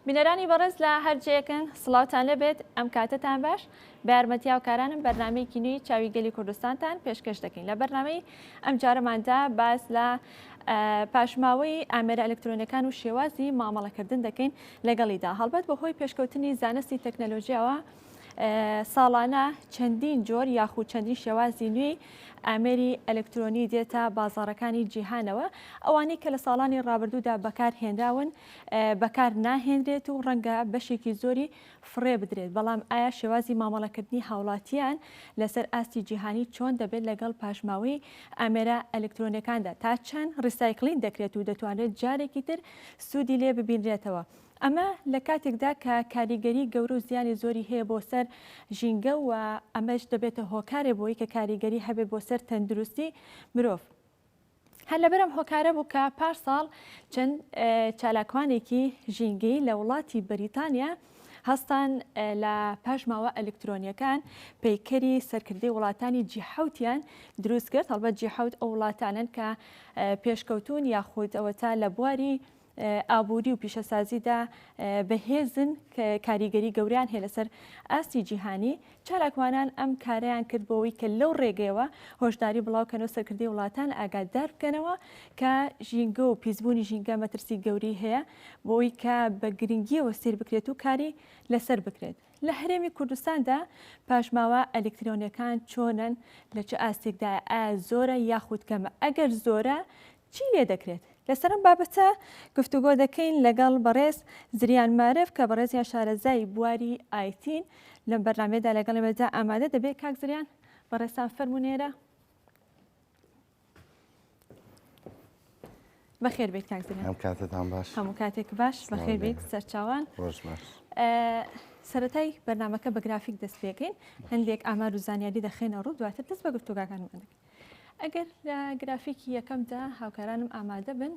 بینەرانی بەڕێز لە هەرجەیەکن سڵاوتان لەبێت ئەم کاتتان باش بارمەتیا و کارانم بەرنمەیەکی نوی چاوی گەلی کوردستانتان پێشکەش دەکەین لە بەرنمەی ئەم جارەماندا باس لە پاشماوەی ئامێرە ئەلکترۆنەکان و شێوازی مامەڵەکردن دەکەین لەگەڵیدا هەڵبەت بەهۆی پێشکەوتنی زانستی تەکنەلۆژیاوە ساڵانە چەندین جۆر یاخود چەندین شێوازی نوێی ئامێری ئەلکترۆنی دێتە بازارەکانی جیهانەوە ئەوانەی کە لە ساڵانی ڕابردوودا بەکار هێنراون بەکار ناهێنرێت و ڕەنگە بەشێکی زۆری فڕێ بدرێت بەڵام ئایا شێوازی مامەڵەکردنی هاوڵاتیان لەسەر ئاستی جیهانی چۆن دەبێت لەگەڵ پاشماوەی ئامێرە ئەلکترۆنەکاندا تا چەند ڕیسایکلین دەکرێت و دەتوانێت جارێکی تر سوودی لێ ببینرێتەوە. ئەمە لە کاتێکدا کە کاریگەری گەورە و زیانی زۆری هەیە بۆ سەر ژینگە و ئەمەش دەبێتە هۆکارێ بۆی کە کاریگەری هەبێت بۆ سەر تەندروستی مرۆڤ. هەر لەبەر ئەم هۆکارە بوو کە پارساڵ چەند چالاکوانێکی ژینگەیی لە وڵاتی بەریتانیا، هەستان لە پاشماوە ئەلکترۆنیەکان پەیکەری سەرکردی وڵاتانی جیحوتیان دروست کرد هەڵبەت جیحوت ئەو وڵاتانن کە پێشکەوتون یاخود ئەوە تا لە بواری ئابووری و پیشەسازیدا بەهێزن کاریگەری گەوریان هەیە لەسەر ئاستی جیهانی چالاکوانان ئەم کارەیان کرد بۆوەی کە لەو ڕێگەیەوە هۆشداری بڵاو کەن و سەرکردەی وڵاتان ئاگادار بکەنەوە کە ژینگە و پیسبوونی ژینگە مەترسی گەورەی هەیە بۆوەی کە بە گرنگیەوە سیر بکرێت و کاری لەسەر بکرێت. لە هەرێمی کوردستاندا پاشماوە ئەلیکترۆنیەکان چۆنن لە چ ئاستێکدایە ئایا زۆرە یاخود کەمە ئەگەر زۆرە چی لێ دەکرێت؟ لەسەر ئەم بابەتە گفتوگۆ دەکەین لەگەڵ بەڕێز زریان مارف کە بەڕێزیان شارەزای بواری ئایتین، لەم بەرنامەیەدا لەگەڵ ئێمەدا ئامادە دەبێت. کاک زریان بەڕێزتان فەرموون ئێرە. بەخێر بێت کاک زریان. هەم کاتتان باش. هەموو کاتێک باش بەخێر بێت سەرچاوان. ڕۆژ باش. سەتای بەرنمەکە بە گرافیک دەست پێکەین هەندێک ئامار و زانیاری دەخێنە ڕوو دواتر دەست بە گفتوگاکانمان دەکەین. ئەگەر لە گرافیکی یەکەمدا هاوکارانم ئامادە بن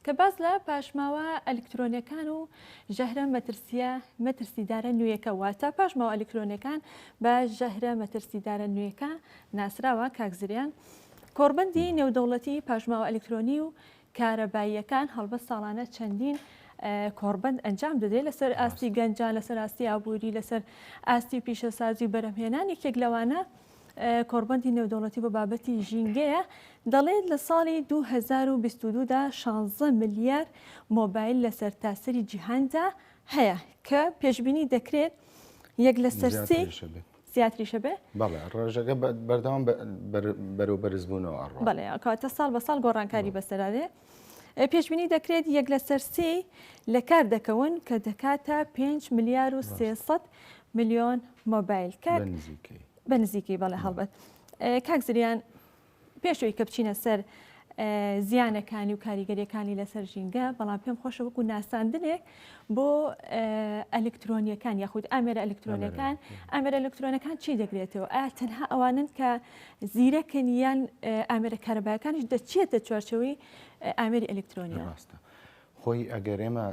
کە باس لە پاشماوە ئەلکترۆنەکان و ژەهرە مەترسیە مەترسیدارە نوێیەکە واتە پاشماوە ئەلکترۆنەکان بە ژەهرە مەترسیدارە نوێیەکە ناسراوە کاکزریان کۆڕبندی نێودەوڵەتی پاشماوە ئەلکترۆنی و کارەباییەکان هەڵبە ساڵانە چەندین کۆڕبند ئەنجام دەدرێت لەسەر ئاستی گەنجان لەسەر ئاستی ئابووری لەسەر ئاستی پیشەسازی و بەرەمهێنان یەکێک لەوانە کۆڕبەندی نێودەوڵەتی بۆ بابەتی ژینگەیە دەڵێت لە ساڵی 2022 دا 16 ملیار مۆبایل لە سەرتاسەری جیهاندا هەیە کە پێشبینی دەکرێت یەک لە سەرسی زیاتریشە بێ بەڵێ ڕۆژەکە بەردەوام بەرەو بەرزبوونەوە ئەڕ بەڵێ کاتە ساڵ بە ساڵ گۆڕانکاری بەسەرارێ پێشبینی دەکرێت یەک لەسەر سێی لە کار دەکەون کە دەکاتە 5 ملیار و 300 ملیۆن مۆبایل کاک بە نزیکەی بەڵێ هەڵبەت کاک زریان پێشەوەی کە بچینە سەر زیانەکانی و کاریگەریەکانی لەسەر ژینگە بەڵام پێم خۆشە وەکو ناساندنێک بۆ ئەلکترۆنیەکان یاخود ئامێرە ئەلکترۆنەکان ئامێرە ئەلکترۆنەکان چی دەگرێتەوە ئایا تەنها ئەوانن کە زیرەکن یان ئامێرە کارەبایەکانش دەچێتە چوارچەوەی ئامێری ئەلکترۆنی ڕاستە خۆی ئەگەر ئێمە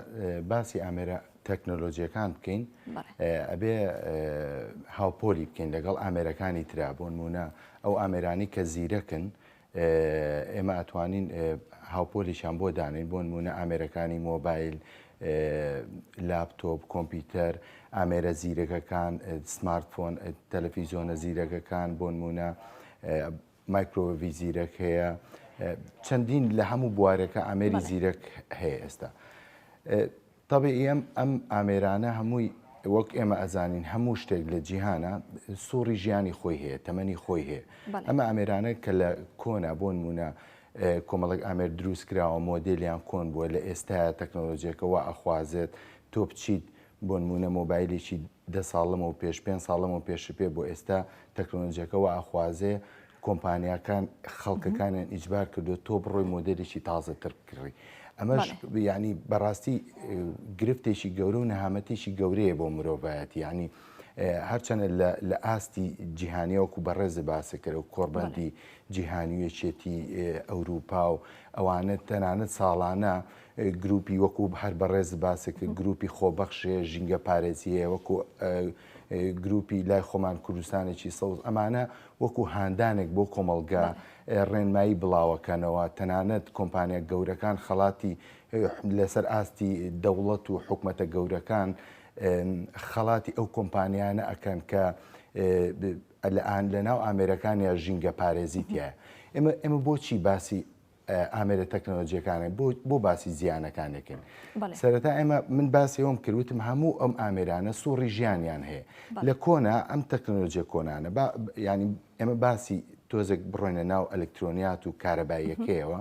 باسی ئامێرە تەکنۆلۆژیەکان بکەین ئەبێ هاوپۆلی بکەین لەگەڵ ئامێرەکانی ترا بۆ نمونە ئەو ئامێرانی کە زیرەکن ئێمە ئەتوانین هاوپۆلیشان بۆ دانین بۆ نمونە ئامێرەکانی مۆبایل لاپتۆپ کۆمپیوتەر ئامێرە زیرەکەکان سمارتفۆن تەلەفیزۆنە زیرەکەکان بۆ نمونە مایکرۆڤی زیرەک هەیە چەندین لە هەموو بوارەکە ئامێری زیرەک هەیە ئێستا تەبعیەن ئەم ئامێرانە هەمووی وەک ئێمە ئەزانین هەموو شتێک لە جیهانە سوڕی ژیانی خۆی هەیە تەمەنی خۆی هەیە ئەمە ئامێرانە کە لە کۆنا بۆن مونە کۆمەڵک ئامێر دروست کراوە مۆدلیان کۆن بووە لە ئێستا تەکنۆلۆژیەکەەوە ئەخوازێت تۆ بچیت بۆ نمونە مۆبایلێکی دە ساڵمەوە پێش پێ ساڵمەوە پێش پێ بۆ ئێستا تەکنۆلۆژیەکەەوە ئاخوازێ کۆمپانیاکان خەڵکەکانیان ئیجبار کردو تۆ بڕۆی مۆدێلێکی تازەتر بکڕی ئەمەش ینی بەڕاستی گرفتێکی گەورە و نەهامەتێکی گەورەیە بۆ مرۆڤایەت ینی هەرچەنە لە ئاستی جیهانیەوەکو بەڕێز باسەکەەوە کۆڕبندی جیهانیەکێتی ئەوروپا و ئەوانە تەنانەت ساڵانە گروپی وەکو هەر بەڕێز باسەکە گروپی خۆبەخشێ ژینگە پارێزیەیە وەکو گروپی لای خۆمان کوردستانێکی سەوز ئەمانە وەکو هاندانێک بۆ کۆمەڵگا ڕێنمایی بڵاوەکەنەوە تەنانەت کۆمپانیا گەورەکان خەڵاتی لەسەر ئاستی دەوڵەت و حکومەتە گەورەکان خەڵاتی ئەو کۆمپانیانە ئەکەن کە لە ئان لە ناو ئامێرەکان یا ژینگە پارێزیتە ئێمە ئێمە بۆچی باسی ئامێرە تەکنەلۆجیەکانە بۆ باسی زیانەکانێکن سەرەتا ئێمە من باسی ئەوم کردوتم هەموو ئەم ئامێرانە سوڕی ژیانیان هەیە لە کۆنا ئەم تەکنەلۆجیە کۆنانە ینی ئێمە باسی تۆزێک بڕۆینە ناو ئەلکترۆنیات و کارەباییەکەیەوە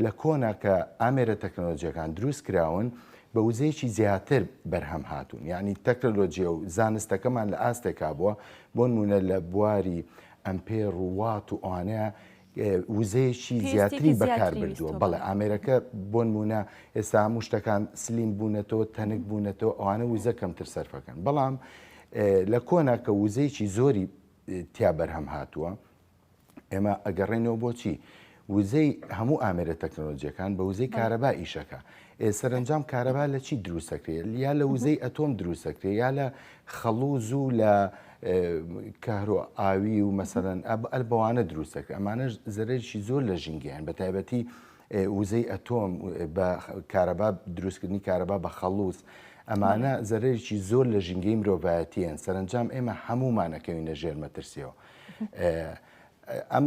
لە کۆنا کە ئامێرە تەکنەلۆجیەکان دروست کراون بە وزەیەکی زیاتر بەرهەم هاتوون یعنی تەکنەلۆجیە و زانستەکەمان لە ئاستێکا بووە بۆ نمونە لە بواری ئەمپێر و وات و ئەوانەیە وزەیەکی زیاتری بەکار بردووە بەڵێ ئامێرەکە بۆنمونە ئێستا هەموو شتەکان سلیم بوونەتەوە تەنک بوونەتەوە ئەوانە وزە کەمتر سەرفەکەن بەڵام لە کۆنا کە وزەیەکی زۆری تیا بەرهەم هاتووە ئێمە ئەگەڕێنەوە بۆچی وزەی هەموو ئامێرە تەکنۆلۆژیەکان بە وزەی کارەبا ئیشەکە ئێ سەرەنجام کارەبا لە چی دروست ئەکرێ؟ یا لە وزەی ئەتۆم دروست ئەکرێ یا لە خەڵوز و لە کەهرۆ ئاوی و مەسەرەن ئەل بەوانە دروست ئەکرێ ئەمانەش زەرەرشی زۆر لە ژینگەیان بە تایبەتی وزەی ئەتۆم بە کارەبا دروستکردنی کارەبا بە خەڵوز ئەمانە زەرەرێکی زۆر لە ژینگەی مرۆڤایەتیان سەرنجام ئێمە هەمومانەکەوینە ژێر مەترسیەوە ئەم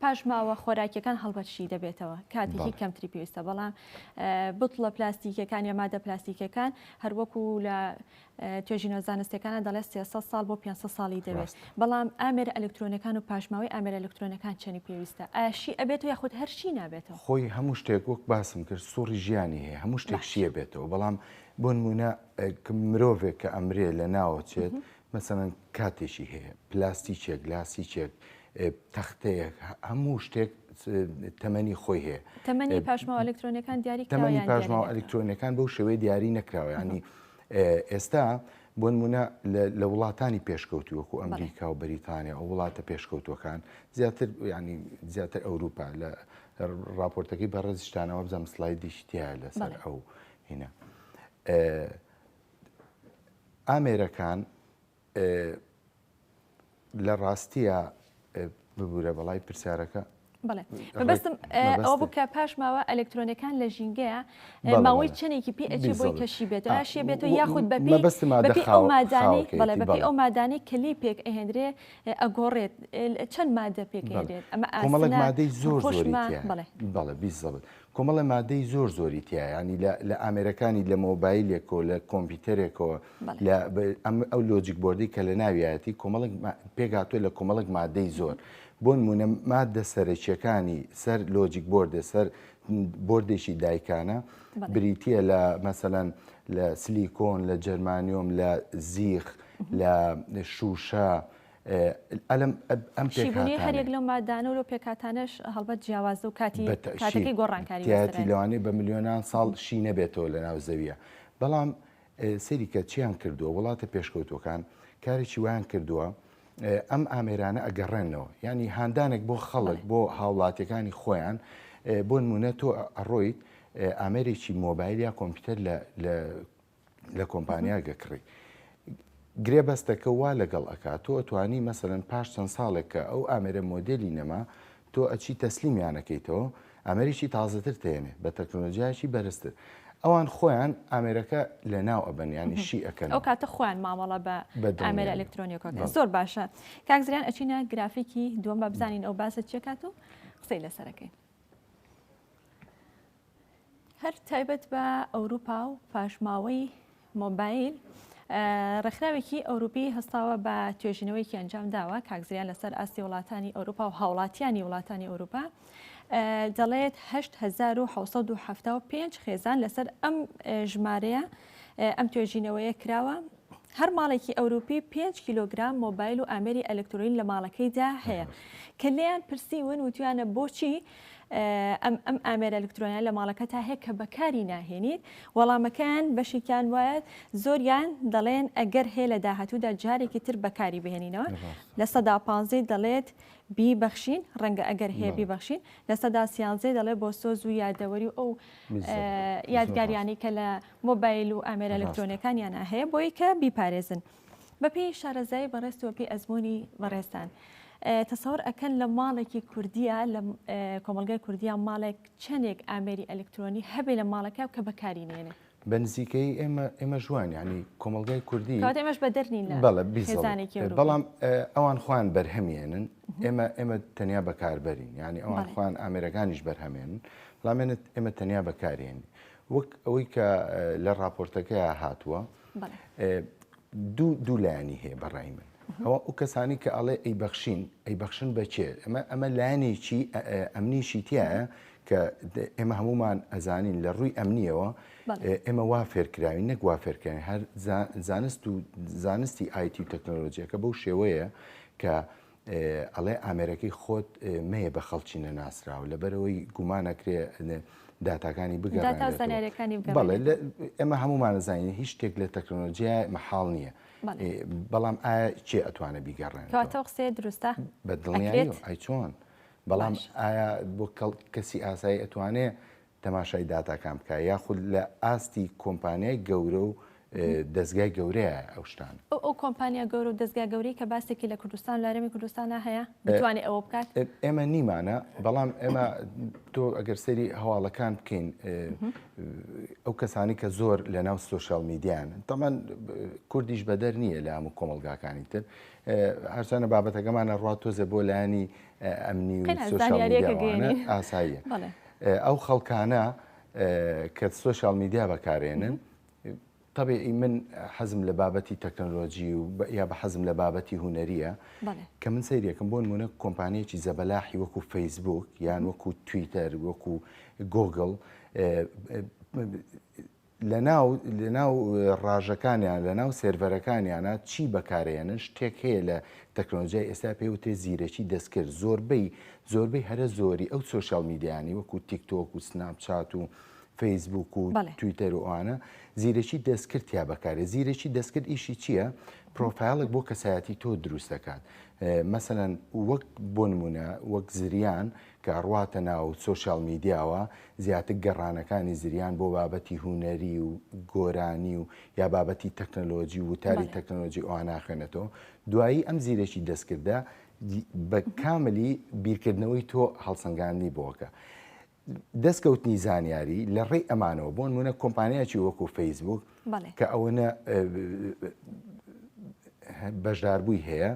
پاش ماوە خۆراکیەکان هەڵبەت شی دەبێتەوە کاتێکی کەمتری پێویستە بەڵام بتڵە پلاستیکەکان یا مادە پلاستیکەکان هەروەکو لە توێژینە زانستەکانە دەڵێت 300 سال بۆ 500 ساڵی دەوێت بەڵام ئامێر ئەلکترۆنەکان و پاشماوەی ئامێر ئەلکترۆنەکان چەنی پێویستە ئاشی ئەبێت و یاخود هەرشی نابێتەوە خۆی هەموو شتێک وەک باسم کرد سوڕی ژیانی هەیە هەموو شتێک شیە بێتەوە بەڵام بۆ نمونە مرۆڤێک کە ئەمرێ لە ناوەچێت مەسەلەن کاتێکی هەیە، پلاستیکێک، لاسیکێک، تەختەیەک، هەموو شتێک تەمەنی خۆی هەیە. تەمەنی پاشماوە ئەلکترۆنیەکان دیاری کراوە یان دیاری نەکراوە؟ تەمەنی پاشماوە ئەلکترۆنیەکان بەو شێوەیە دیاری نەکراوە، یانی ئێستا بۆ نموونە لە وڵاتانی پێشکەوتوو وەکوو ئەمریکا و بەریتانیا و وڵاتە پێشکەوتووەکان زیاتر یانی زیاتر ئەوروپا لە ڕاپۆرتەکەی بەڕێزیشتانەوە بزانم سلایدیش تایە لەسەر ئەو هینە. ئامێرەکان لە ڕاستیە ببوورە بەڵی پرسیارەکە بڵێ بەبستم ئەو بکە پاش ماوە ئەلکترۆنەکان لە ژینگەیە ماوەی چنێکی پێ ئەچی بۆی کەشی بێت ئاشێ بێت و یاخود بە بەپی ئەو مادانی کلی پێک ئەهێنرێ ئەگۆڕێت چەند مادە پێکێنێت ئەمە ئەمەڵک مادەی زۆر زۆری بڵێ بڵێ بیزڵێت کۆمەڵە مادەی زۆر زۆری تیایە ینی لە ئامێرەکانی لە مۆبایلێکەوە لە کۆمپیوتەرێکەوە لە ئەو لۆجیک بردی کە لە ناویایەتی کۆمەڵک پێگاتوە لە کۆمەڵک مادەی زۆر بۆن مونە مادە سەرەکیەکانی سەر لۆجیک بردە سەر بردێکی دایکانە بریتە لە مەسەەن لە سلیکۆن لە جەرمانیۆم لە زیخ لە شوشە شیبونەی هەریەک لەو ماددانە و لەو پێکهاتانەش هەڵبەت جیاوازە و کاتەکەی گۆڕانکاری تیایەتی لەوانەیە بە ملیۆنان ساڵ شی نەبێتەوە لە ناو زەویە بەڵام سەریکە چیان کردووە وڵاتە پێشکەوتوەکان کارێکی ویان کردووە ئەم ئامێرانە ئەگەڕێنەوە ینی هاندانێک بۆ خەڵک بۆ هاوڵاتیەکانی خۆیان بۆ نمونە تۆ ئەڕۆیت ئامێرێکی مۆبایل یا کۆمپیوتەر لە لە کۆمپانیاک ئەکڕی. گرێبەستەکە وا لەگەڵ ئەکات تۆ ئەتوانی مەسەلەن پاش چەند ساڵێک کە ئەو ئامێرە مۆدێلی نەما تۆ ئەچی تەسلیمیانەکەیتەوە ئامێریی تازەتر تێنێ بە تەکنۆلۆژیایکی بەرزتر ئەوان خۆیان ئامێرەکە لە ناو ئەبەن ینی شی ئەەکەن ئەو کاتە خۆیان مامەڵە بە ئامێرە ئەلکترۆنیەکە زۆر باشە کاکزریان ئەچینە گرافیکی دووەم بە بزانین ئەو باسە چێکات و قسەی لەسەرەکەی. هەر تایبەت بە ئەوروپا و پاشماوەی مۆبایل ڕێکخراوێکی ئەوروپی هەستاوە بە توێژینەوەیکی ئەنجام داوە کاکزیان لەسەر ئاستی وڵاتانی ئەوروپا و هاوڵاتیانی وڵاتانی ئەوروپا دەڵێت 1975 خێزان لەسەر ئەم ژمارەیە ئەم توێژینەوەیە کراوە هەر ماڵێکی ئەوروپی پێنج کیلۆگرام مۆبایل و ئامێری ئەلکترۆین لە ماڵەکەیدا هەیە کە لێیان پرسیون وتویانە بۆچی ئەم ئەم ئامێرە ئەلکترۆنیان لە ماڵەکە تا هەیە کە بەکاری ناهێنیت وەڵامەکەیان بەشێکیان وایەت زۆریان دەڵێن ئەگەر هەیە لە داهاتوودا جارێکی تر بەکاری بهێنینەوە لە سەدا پانزەی دەڵێت بیبەخشین ڕەنگە ئەگەر هەیە بیبەخشین لە سەدا سیانزەی دەڵێت بۆ سۆز و یادەوەری و ئەو یادگاریانی کە لە مۆبایل و ئامێرە ئەلکترۆنیەکانیانا هەیە بۆی کە بیپارێزن بەپێی شارەزایی بەڕێزت و بەپێی ئەزموونی بەڕێزتان تەسەور ئەکەن لە ماڵێکی کوردیا لە کۆمەلگای کوردیا ماڵێک چەندێک ئامێری ئەلکترۆنی هەبێ لە ماڵەکە کە بەکاری نێنێ بە نزیکەیی ئێمە ئێمەش وان یعنی کۆمەلگای کوردی کەواتە ئێمەش بەدەر نین لە بەڵێ بیست ساڵ خێزانێکی ئەوروپی بەڵام ئەوان خۆیان بەرهەمێنن ئێمە ئێمە تەنیا بەکاربەرین یعنی ئەوان بەڵێ. خۆیان ئامێرەکانیش بەرهەمێنن بەڵام ئێمە تەنیا بەکارێنین وەک ئەوەی کە لە ڕاپۆرتەکە هاتووە دوو دوو لایانی هەیە بەڕای من ئەوە ئەو کەسانی کە ئەڵێ ئەی بەخشین ئەی بەخشن بەچێ ئەمە ئەمە لایەنێکی ئەمنیشی تایە کە ئێمە هەمومان ئەزانین لە ڕووی ئەمنیەوە ئێمە وا فێرکراوی نەک وا فێرکراوی هەر زانست و زانستی آیتی و تەکنۆلۆژیەکە بەو شێوەیە کە ئەڵێ ئامێرەکەی خۆت مەیە بە خەڵکی نەناسراو لەبەرەوەی گومانەکرێ داتاکانی بگەڕێت ئێمە هەمومانەزانین هیچ شتێک لە تەکنۆلۆژیای مەحاڵ نییە بەڵام ئایا چێ ئەتوانە بیگەڕێن قسێ دروستە بە دڵنیای چۆن بەڵام ئایا بۆ کەسی ئاسایی ئەتوانێ تەماشای داتاکان بکە یاخود لە ئاستی کۆمپانیای گەورە و دەزگای گەورەیە ئەو شتانە. ئەو ئەو کۆمپانیا گەورە و دەزگا گەورەی کە باسێکی لە کوردستان و لە هەرێمی کوردستانا هەیە بتوانێ ئەوە بکات؟ ئێمە نیمانە بەڵام ئێمە تۆ ئەگەر سەری هەواڵەکان بکەین ئەو کەسانی کە زۆر لە ناو سوۆشال میدیان تەمان کوردیش بەدەر نییە لە هەموو کۆمەلگاکانی تر هەرچانە بابەتەکەمانە ڕات تۆزێ بۆ لایانی ئەمنی و سۆشیالمیدیاوانە ئاساییە ئەو خەڵکانە کە سۆشال میدیا بەکارێنن طبێ ئی من حەزم لە بابەتی تەکنەلۆژی و یا بە حەزم لە بابەتی هوەریە کە من سەیرەکەم بۆن منە کۆمپانیەکی زەبەلاحی وەکو فەیسبوک یان وەکو تویتەر وەکو گۆگل لەناو لەناو ڕاژەکانیان لەناو سێرڤەرەکانیانە چی بەکارێنن شتێک هەیە لە تەکنۆلۆژیای ئێستا پێ وتێ زیرەکی دەستکرد زۆربەی زۆربەی هەرە زۆری ئەو سوۆشال میدیانی وەکو تیکتۆک و سناپچات و فەیسبوک و تویتەر و ئەوانە زیرەکی دەستکرد یا بەکارێ زیرەکی دەستکرد ئیشی چییە؟ پرۆفایلێک بۆ کەسایەتی تۆ دروست دەکات مەسەەن وەک بۆ نمونە وەک زریان کە ڕواتە ناو سۆشیال میدیاوە زیاتک گەڕانەکانی زریان بۆ بابەتی هونەری و گۆرانی و یا بابەتی تەکنەلۆجی وتاری تەکنەلۆجی ئەوە ناخوێنێتەوە دوایی ئەم زیرەکی دەستکردە بە کاملی بیرکردنەوەی تۆ هەڵسەنگاندنی بۆکە دەستکەوتنی زانیاری لە ڕێی ئەمانەوە بۆن منە کۆمپانیاکی وەکو فەیسبوک کە ئەوەنە بەشداربووی هەیە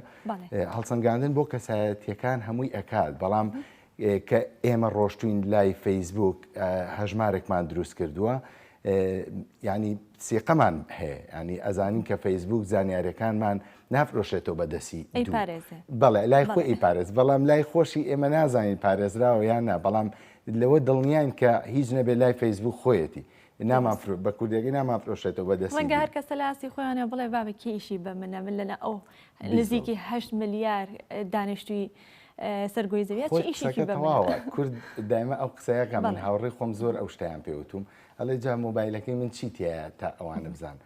هەڵسەنگاندن بۆ کەسایەتەکان هەمووی ئەکات بەڵام کە ئێمە ڕۆشتوین لای فەیسبوک هەژمارێکمان دروست کردووە ینی سیقەمان هەیە ینی ئەزانین کە فەیسبوک زانیارەکانمان نافرۆشێتەوە بەدەسی بەڵێ لای خۆ ئی پارێز بەڵام لای خۆشی ئێمە نازانین پارێزراوە یان نا بەڵام لەوە دڵنیان کە هیچ نەبێت لای فەیسبوک خۆیەتی نامافرۆ بە کوردێکی نامافرۆشێتەوە بەدەست ڕەنگە هەر کەسە لە ئاستی خۆیانە بڵێ بابە کێشی بە منە من لەلا ئەو نزیکی هەشت ملیار دانیشتوی سەرگۆی زەویە ئیشێکی بەواوە کورد دایمە ئەو قسەیەکە من هاوڕێ خۆم زۆر ئەو شتیان پێوتوم ئەڵێ جا مۆبایلەکەی من چی تایە تا ئەوانە بزان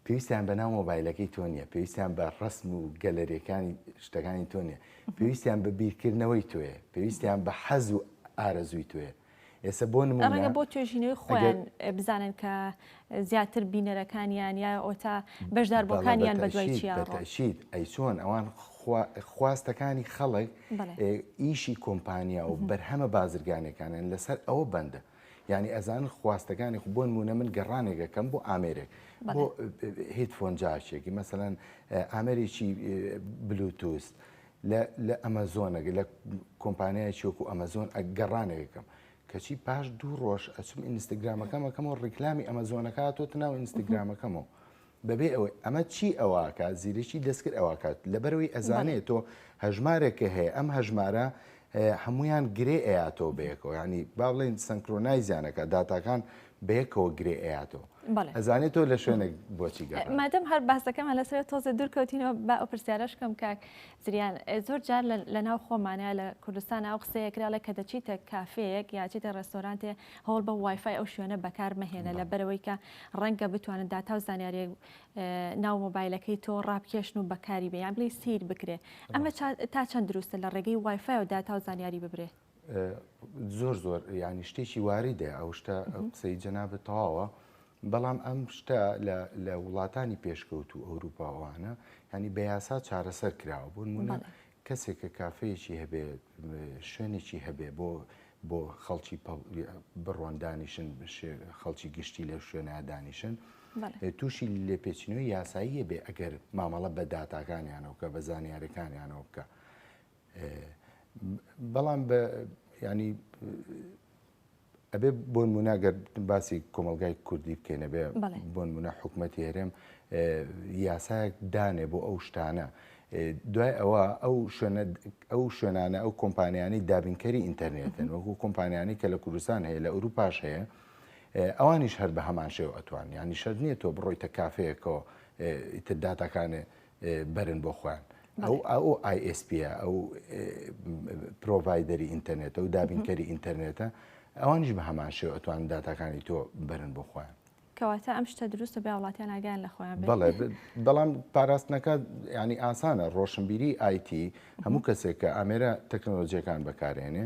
پێویستیان بە ناو مۆبایلەکەی تۆ نییە پێویستیان بە ڕسم و گەلەرەکانی شتەکانی تۆ نیە پێویستیان بە بیرکردنەوەی توێ پێویستیان بە حەز و ئارەزووی توێ ئێسە بۆ نمونە ڕەنگە بۆ توێژینەوەی خۆیان بزانن کە زیاتر بینەرەکانیان یا ئۆتا بەشداربووەکانیان بەدوای چیان بەتەشید ئەی چۆن ئەوان خواستەکانی خەڵک ئیشی کۆمپانیا و بەرهەمە بازرگانەکانیان لەسەر ئەوە بەندە یعنی ئەزان خواستەکانی خو بۆن مونە من گەڕانێکەکەم بۆ ئامێرێک بۆ هیتفۆن جاچێکی مەسەەن ئامێرێکی بلوتوست لە ئەمەزۆنەگە لە کۆمپانیایەکی وەکو ئەمەزۆن گەڕانەوەکەم کەچی پاش دوو ڕۆژ ئەچم ئینستاگرامەکەمەکەمەوە ڕیکلامی ئەمەزۆنەکەاتۆ ناو ئینستاگرامەکەمەوە بەبێ ئەوەی ئەمە چی ئەوواکە زیرەکی دەستکرد ئەوواکات لەبەرەوەی ئەزانێت تۆ هەژمارێکە هەیە ئەم هەژمارە هەمویان گرێ ئەیاتەوە بەیەکەوە ینی با بڵێن سنکرۆنایزیانەکە داتاکان بەیەکەوە گرێ ئەیاتۆ بەڵێ ئەزانێت تۆ لە شوێنێک بۆچی گەڕا ئە، مادەم هەر باسەکەمان لەسەرە تۆزێ دوور کەوتینەوە با ئەو پرسیارەش کەم کاک زریان ئێ، زۆر جار لە لەناو خۆمانا لە کوردستان ئەو قسەیە کرا ڵێ کە دەچیتە کافێیەک یا چیتە ڕێستۆرانتێ هەوڵ بە وای فای ئەو شوێنە بەکار مەهێنە بەڵێ لەبەرەوەی کە ڕەنگە بتوانن داتا و زانیاریە ئە، ناو مۆبایلەکەی تۆ ڕابکێشن و بەکاری بێ یان بڵێی سیر بکرێ ئەمە ڕاستە چا تا چەند دروستە لە ڕێگەی وای فای و داتا و زانیاری ببرێ؟ زۆر زۆر یعنی شتێکی واریدە ئەو شتە قسەی جەنابەت تەواوە بەڵام ئەم شتە لە وڵاتانی پێشکەوت و ئەوروپاوانە ینی بە یاسا چارەسەر کراوە بوون منە کەسێک کە کافەیەکی هەبێ شوێنێکی هەبێ بۆ بۆ خەڵکی بڕۆن دانیشن خەڵکی گشتی لە شوێنە دانیشن تووشی لێپێچینەوەی یاساییە بێ ئەگەر مامەڵە بە داتاکانیانەوە کە بە زانیارەکانیانەوە بکە. بەڵام بە ینی ئەبێ بۆن مناگەر باسی کۆمەلگای کوردی بکەینە بێ بۆن منە حکوومەتی هەرێم یاسایەک دانێ بۆ ئەو شتانە. دوای ئەوە ئەو شوێنە ئەو شوێنانە ئەو کۆمپانیانی دابینکەری ئینتەرنێتن وەکو کۆمپانیانی کە لە کوردستان هەیە لە ئەوروپاش هەیە ئەوانیش هەر بە هەمان شێو ئەتوان ینی شەر نییە تۆ بڕۆیتە کافەیەکەوە ئیتر داتاکانێ بەرن بۆ خۆیان ئەو ئەو ISP ئەو پرۆڤایدەری ئینتەرنێتە و دابینکەری ئینتەرنێتە ئەوانیش بە هەمان شێو ئەتوان داتاکانی تۆ بەرن بۆ خۆیان کەواتە ئەم شتە دروستە بە وڵاتیان ئاگیان لە خۆیان بەڵام پاراستنەکە ینی ئاسانە ڕۆشنبیری آیتی هەموو کەسێک کە ئامێرە تەکنۆلۆژیەکان بەکارێنێ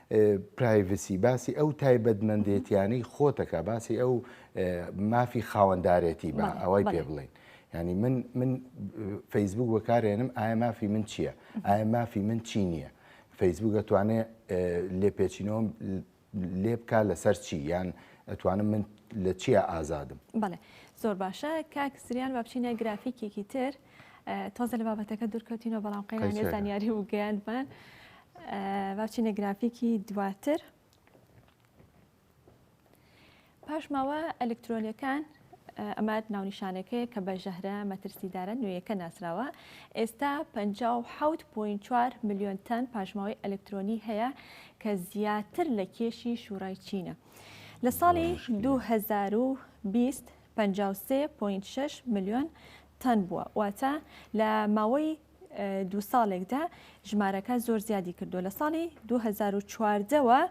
پرایڤسی باسی ئەو تایبەتمەندێتیانەی خۆتەکە باسی ئەو مافی خاوەندارێتی بە ئەوەی پێ بڵین ینی من من فەیسبوک وەکارێنم ئایا مافی من چییە؟ ئایا مافی من چی نییە؟ فەیسبوک ئەتوانێ لێپێچینەوەم لێ بک لەسەر چی یان ئەتوانم من لە چیە ئازادم؟ بەڵێ زۆر باشە کاک سریان بابچینە گرافیکێکی تر. تازە لە بابەتەکە دوورکەوتینەوە بەڵام قەیرانێ زانیاری و گەیاندمان باچینە گرافیکی دواتر پاشماوە ئەلکترۆنیەکان ئەمە ناونیشانەکەی کە بە ژەهرە مەترسیدارە نوێیەکە ناسراوە ئێستا 5.4 میلیۆن تەن پاشماوەی ئەلکترۆنی هەیە کە زیاتر لە کێشی شوڕای چینە لە ساڵی 2020 53.6 میلیۆن تان بووە، واتە لە ماوەی دوو ساڵێکدا ژمارەکە زۆر زیادی کردووە، لە ساڵی 2014 وە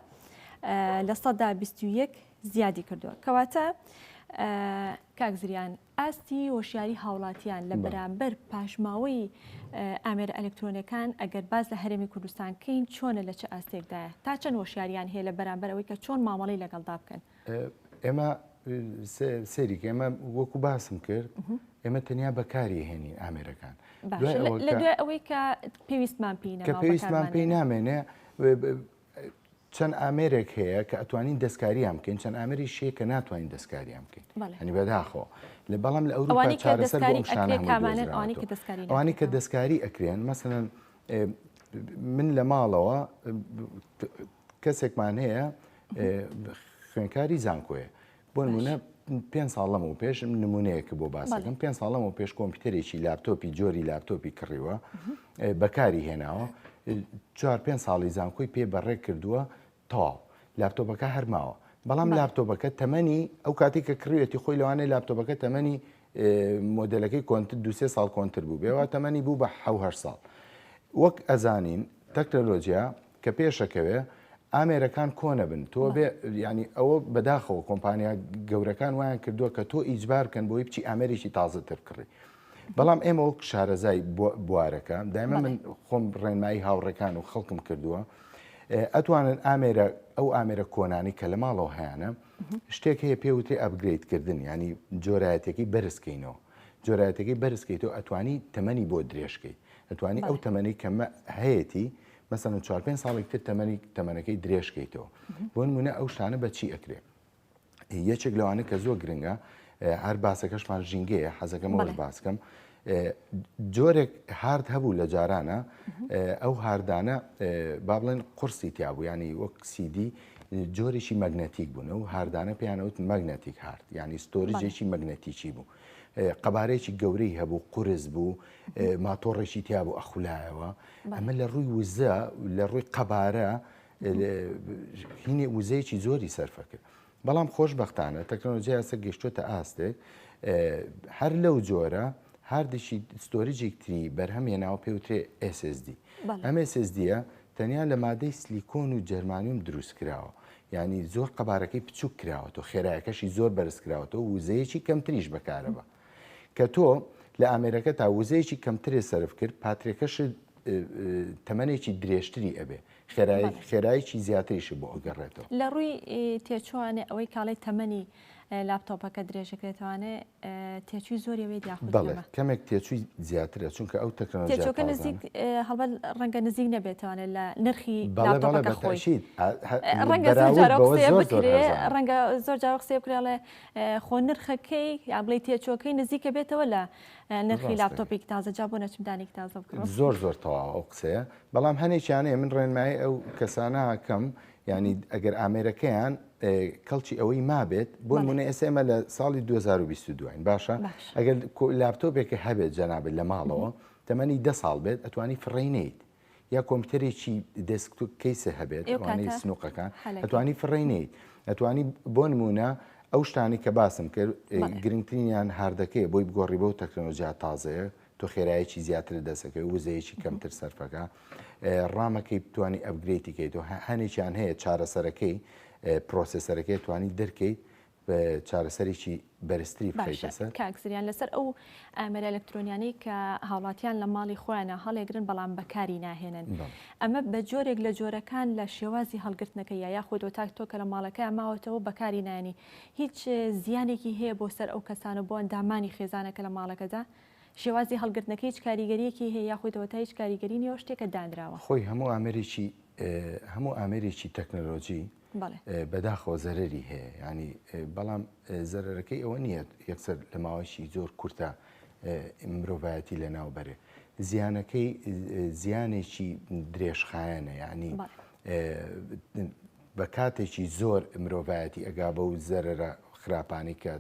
لە سەدا 21 زیادی کردووە کەواتە کاک زریان ئاستی هۆشیاری هاوڵاتیان لە بەرامبەر پاشماوەی ئامێرە ئەلکترۆنەکان ئەگەر باز لە هەرێمی کوردستان کەین چۆنە لە چ ئاستێکدایە تا چەند هۆشیاریان هەیە لە بەرامبەرەوەی کە چۆن مامەڵی لەگەڵدا بکەن ئێمە سەیری ئێمە وەکو باسم کرد ئێمە تەنیا بەکاری هێنین ئامێرەکان ئەوەی کە پێویستمان پێ کە پێویستمان پێی نامێنێ چەند ئامێرێک هەیە کە ئەتوانین دەستکاریان بکەین چەند ئامری شێ کە ناتوانین دەستکاریان بکەین هەنی بەداخۆ لە بەڵام لە ئەوروپا چارەسەر ئەوانی کە دەستکاری ئەکرێن مەسەن من لە ماڵەوە کەسێکمان هەیە خوێنکاری زانکۆیە بۆ نمونە پێ ساڵەم و پێش نمونەیەکە بۆ باسەکەم پێ ساڵەم و پێش کۆمپیوتەرێکی لاپتۆپی جۆری لاپتۆپی کڕیوە بەکاری هێناوە چوار پێ ساڵی زانکۆی پێ بەڕێ کردووە تاو لاپتۆپەکە هەرماوە بەڵام لاپتۆپەکە تەمەنی ئەو کاتی کە کڕوێتی خۆی لەوانەیە لاپتۆپەکە تەمەنی مۆدلەکەی کۆنت دوسێ ساڵ کۆنتتر بوو بێەوە تەمەنی بوو بە حه ساڵ وەک ئەزانین تەکنەلۆجییا کە پێشەکەوێ ئامێرەکان کۆنەبن تۆ بێ ینی ئەوە بەداخەوە کۆمپانیا گەورەکان وایان کردووە کە تۆ ئیجبار بکەن بۆی بچی ئامێرێکی تازەتر کڕی بەڵام ئێمە وەک شارەزای بوارەکە دایمە من خۆم ڕێنمایی هاوڕێکان و خەڵکم کردووە ئەتوانن ئامێرە ئەو ئامێرە کۆنانی کە لە ماڵەوە هەیەە شتێک هەیە پێوتری ئەبگریتکردن ینی جۆرایەتەکەی بەرزکەینەوە جۆرایەتەکەی بەرزکەیتەوە ئەتوانی تەمەنی بۆ درێژکەی ئەتوانی ئەو تەمەەی کەمە هەیەی مەسەلەن چوار پێنج ساڵێک تر تەمەنی تەمەنەکەی درێژ کەیتەوە بۆ نمونە ئەو شتانە بە چی ئەکرێ یەکێک لەوانە کە زۆر گرنگە هەر باسەکەشمان ژینگەیە حەزەکەمەوە بەڵێ. باسکەم جۆرێک هارد هەبوو لە جارانە ئەو هاردانە با بڵێن قورسی تیا بوو ینی وەک سیدی جۆرێکی مەگنەتیک بوون و هاردانە پێیانەوت مەگنەتیک هارد ینی ستۆریجێکی مەگنەتیکی بوو قەبارەیەکی گەورەی هەبوو قورس بوو ماتۆڕێکی تیا بوو ئەخولایەوە ئەمە لە ڕووی وزە لە ڕووی قەبارە هینێ وزەیەکی زۆری سەرفە کرد بەڵام خۆشببختانە تەکنۆلۆژیا سەر گەشتوتە ئاستێک هەر لەو جۆرە هاردێکی ستۆریجێکتری بەرهەمێناوە پێوترێ SSD ئەم SSDە تەنیا لە مادەی سلیکۆن و جەرمانیۆم دروست کراوە یانی زۆر قەبارەکەی بچوک کراوەتەوە خێرایەکەشی زۆر بەرز کراوەتەوە وزەیەکی کەمتریش بەکارەبە کە تۆ لە ئامێرەکەتا وزەیەکی کەمترێ سەرف کرد پاترێکەشت تەمەنێکی درێژتری ئەبێ خێرای خێرایکی زیاتریش بۆ ئەگەڕێتەوە لە ڕووی تێچوانێ ئەوەی کاڵی تەمەنی لاپتۆپەکە درێژەکرێتوانێ تێچووی زۆری وێت یاخود بەڵێ کەمێک تێچووی زیاترە چونکە ئەو تەکنەلۆژیاچۆکە نزیک هەڵبەت ڕەنگە نزیک نەبێتەوانێت لە نرخی خۆشیت ڕەنگە ڕەنگە زۆر جاوە قسێ بکرێڵێ خۆ نرخەکەی یا بڵی تێچۆکەی نزیکە بێتەوە لە نرخی لاپتۆپی تازە جا بۆ نەچمدانی تازە بکڕم زۆر زۆر تەواو ئەو قسەیە بەڵام هەنێکیانەیە من ڕێنمایی ئەو کەسانە کەم یانی ئەگەر ئامێرەکەیان کەڵکی ئەوەی مابێت بۆ منە ئێسێمە لە ساڵی 2022 باشە ئەگەر لاپتۆپێکە هەبێت جەنابێت لە ماڵەوە تەمەنی ده ساڵ بێت ئەتوانی فڕینیت یا کۆمپیوتەرێکی دەسکتو کەیسە هەبێت ئەوانەی سنووقەکان ئەتوانی فڕینیت ئەتوانی بۆ نمونە ئەو شتانی کە باسم کرد گرنگترینیان هاردەکەی بۆی بگۆڕی بۆ تەکنۆلۆژیا تازەیە تۆ خێرایەکی زیاتر لە دەست ئەکەوێت وزەیەکی کەمتر سەرفەکە ڕامەکەی بتانی ئەبگرێتی کەیت و هەنێکیان هەیە چارەسەرەکەی پرۆسسەرەکەی توانی دەرکەیت چارەسەرێکی بەرزتری بخیتەسەر کاکسریان لەسەر ئەو ئامەرە ئەلکترۆنیانەی کە هاوڵاتیان لە ماڵی خۆیانە هەڵێگرن بەڵام بەکاری ناهێنن ئەمە بە جۆرێک لە جۆرەکان لە شێوازی هەڵگرتنەکە یا یاخود تاک تۆ کە لە ماڵەکە ماوەتەوە بەکاری نانی هیچ زیانێکی هەیە بۆ سەر ئەو کەسانە بۆ ئەندامانی خێزانەکە لە ماڵەکەدا شێوازی هەڵگرتنەکە هیچ کاریگەریەکی هەیە یاخود ئەوەتا هیچ کاریگەری نیە و شتێکە دانراوە. خۆی هەموو ئامێرێکی هەموو ئامێرێکی تەکنەلۆجی بەداخەوە زەرەری هەیە یانی بەڵام زەرەرەکەی ئەوە نیە یەکسەر لە ماوەیەکی زۆر کورتە مرۆڤایەتی لە ناو بەرێ زیانەکەی زیانێکی درێژخایەنە یعنی بە کاتێکی زۆر مرۆڤایەتی ئەگا بە و زەرەرە خراپانی کە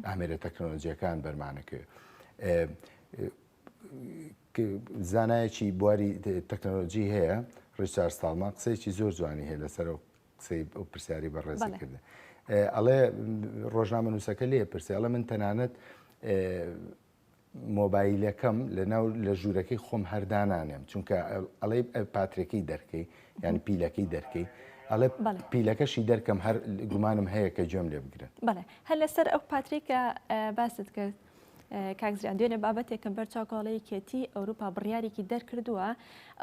ئامێرە تەکنۆلۆژیەکان بەرمانەکرد زانایەکی بواری تەکنۆلۆژی هەیە ڕیچار ساڵمان قسەیەکی زۆر جوانی هەیە لەسەر و قسەی ئەو پرسیاری بە ڕێزکردن ئەڵێ ڕۆژنامە نووسەکە لێ پرسیاڵە من تەنانەت مۆبایلەکەم لەناو لە ژوورەکەی خۆم هەردانانێم چونکە ئەڵێ پاترێکی دەرکەی یان پیلەکەی دەرکەی ئەڵێ پیلەکەشی دەرکەم هەر گومانم هەیە کە گوێم لێ بگرن بڵێ هەر لەسەر ئەو پاتریکە باست کرد کاکزیان دوێنێ بابەتێکم بەر چاوکۆڵەی کێتی ئەوروپا بڕیارێکی دەرکردووە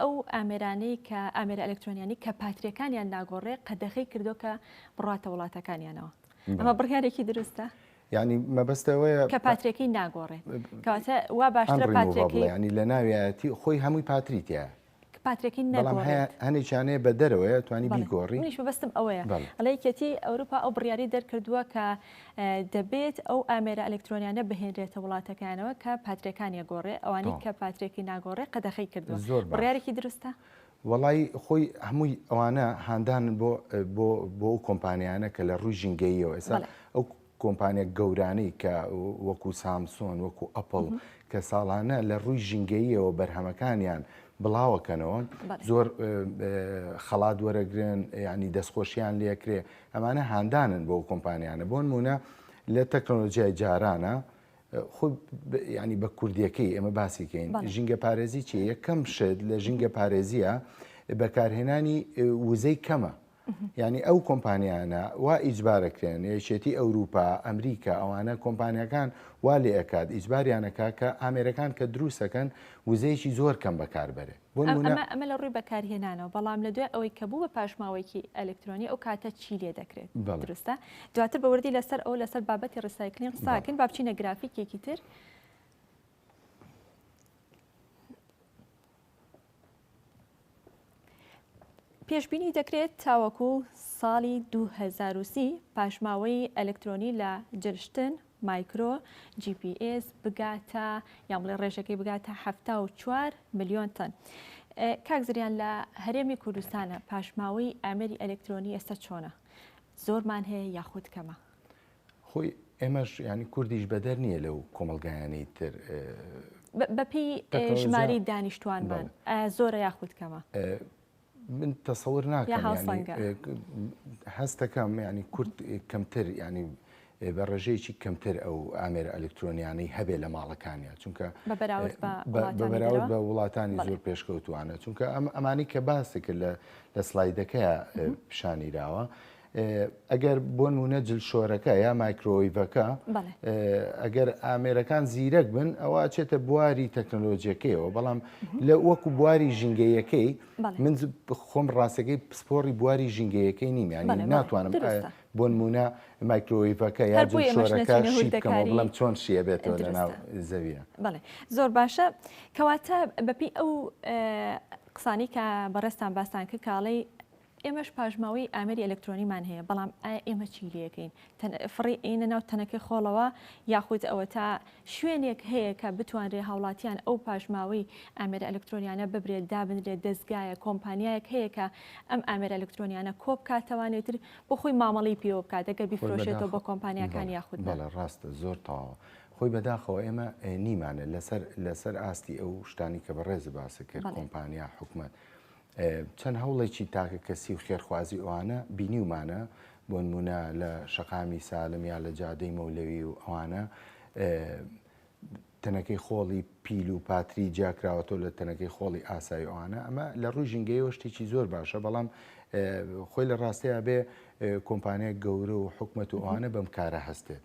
ئەو ئامێرانەی کە ئامێرە ئەلکترۆنیانی کە پاتریەکانیان ناگۆڕێ قەدەخی کردو کە بڕاتە وڵاتەکانیانەوە ئەمە بڕیارێکی دروستە یانی مەبەست ئەوەیە کە پاترێکی ناگۆڕێ کەواتە وا باشترە پاترێکی ینی لە ناویایەتی خۆی هەمووی پاتری تیا پاترێکی نەڵام هەیە هەنێکیانەیە بە دەرەوەیە توانی بیگۆڕی منیش بەستم ئەوەیە ئەڵەیەتی ئەوروپا ئەو بڕیاری دەرکردووە کە دەبێت ئەو ئامێرە ئەلکترۆنیانە بهێنرێتە وڵاتەکانەوە کە پاترەکانیە گۆڕێ ئەوانی کە پاترێکی ناگۆڕێ قەدەخی کردو زۆر بڕارێکی دروستە وەڵایی خۆی هەمووی ئەوانە هاندانن بۆ بۆ بۆ ئەو کۆمپانیانە کە لە ڕووی ژینگەییەوە ئێستا بەڵێ. ئەو کۆمپانیا گەورانەی کە وەکو سامسۆن وەکو ئەپڵ کە ساڵانە لە ڕووی ژینگەییەوە بەرهەمەکانیان بڵاوەکەنەوە بەڵێ. زۆر اه، اه، خەڵات وەرەگرن یعنی دەستخۆشیان لێکرێ ئەمانە هاندانن بۆ ئەو کۆمپانیانە بۆ نمونە لە تەکنۆلۆژیای جارانە خود ینی بە کوردیەکەی ئێمە باسی کەین ژینگە پارێزی چی یەکەم شت لە ژینگە پارێزیە بەکارهێنانی وزەی کەمە ینی ئەو کۆمپانیانە وا ئیجبارەکرێن یەکێتی ئەوروپا ئەمریکا ئەوانە کۆمپانیەکان وا لێ ئەکات ئیجباریانەکە کە ئامێرەکان کە دروستەکەن وزەیەکی زۆر کەم بەکاربەرێت ئەمە لە ڕووی بەکارهێنانەوە بەڵام لە دوای ئەوەی کە بوو بە پاشماوەیەکی ئەلکترۆنی ئەو کاتە چی لێ دەکرێت دروستە دواتر بە وردی لەسەر ئەو لەسەر بابەتی ڕسایکلین قساکن با بچینە گرافیکێکی تر پێشببینی دەکرێت تاوەکو ساڵی 2030 پاشماوەی ئەلکترۆنی لە جلشتن مایکرۆ جی پی ئێس بگاتە یان بڵێ ڕێژەکەی بگاتە حەفتا و چوار ملیۆن تەن کاک زریان لە هەرێمی کوردستانە پاشماوەی ئامێری ئەلکترۆنی ئێستا چۆنە زۆرمان هەیە یاخود کەمە خۆی ئێمەش ینی کوردیش بەدەر نییە لەو کۆمەلگایانی تر بەپی ژماری دانیشتوانمان زۆرە یاخود کەمە من تەسەور ناکەم هەست دەکەم ینی کورد کەمتر ینی بە ڕێژەیەکی کەمتر ئەو ئامێرە ئەلکترۆنیانەی هەبێ لە ماڵەکانیان چونکە بەراورد بە وڵاتانی زۆر پێشکەوتوانە چونکە ئەم ئەمانی کە باسێکرد لە لە سلایدەکە پیشانیراوە ئەگەر بۆ نمونە جلشۆرەکە یا مایکرۆیڤەکە ئەگەر ئامێرەکان زیرەک بن ئەوە چێتە بواری تەکنەلۆژیەکەیەوە بەڵام لە وەکو بواری ژینگەیەکەی من خۆم ڕاستەکەی پسپۆری بواری ژینگەیەکەی نیمیانی ناتوانم بۆ نمونە مایکرۆیڤەکە یا جلشۆرەکە شیدەکەەوە بڵم چۆن شیە بێتەوە لە ناو زەویە زۆر باشە کەواتە بەپی ئەو قسانی کە بەڕێستان باستان کە کاڵی ئێمەش پاشماوەی ئامێری ئەلەکترۆنیمان هەیە، بەڵام ئایا ئێمە چی لێکەین؟ فڕی ئەیەینە ناو تەنەکەی خۆڵەوە؟ یاخود ئەوەتا شوێنێک هەیە کە بتوانرێ هاوڵاتیان ئەو پاشماوەی ئامێرە ئەلەکترۆنیانە ببرێت، دابنرێت، دەزگایەک، کۆمپانیایەک هەیە کە ئەم ئامێرە ئەلەکترۆنیانە کۆبکاتەوە ئیتر بۆ خۆی مامەڵەی پێوە بکات، ئەگەر خۆی بیفرۆشێتەوە بە بەداخەوە کۆمپانیاکان بەڵێ یاخود نا؟ بەڵێ ڕاستە زۆر تەواوە خۆی بەداخەوە ئێمە ئەیەنیمانە لەسەر لەسەر ئاستی ئەو شتانی کە بەڕێزت باست کرد بەڵێ. کۆمپانیا، حکومەت چەند هەوڵێکی تاکەکەسی و خێرخوازی ئەوانە بینیومانە، بۆنمونە لە شەقامی سالم یا لە جادەی مەولەوی و ئەوانە تەنەکەی خۆڵی پیل و پاتری جیاکراوەتەوە لە تەنەکەی خۆڵی ئاسایی ئەوانە ئەمە لە ڕووی ژینگەیەوە شتێکی زۆر باشە بەڵام خۆی لە ڕاستەیە بێ کۆمپانیای گەورە و حکومەت و ئەوانە بەم کارە هەستێت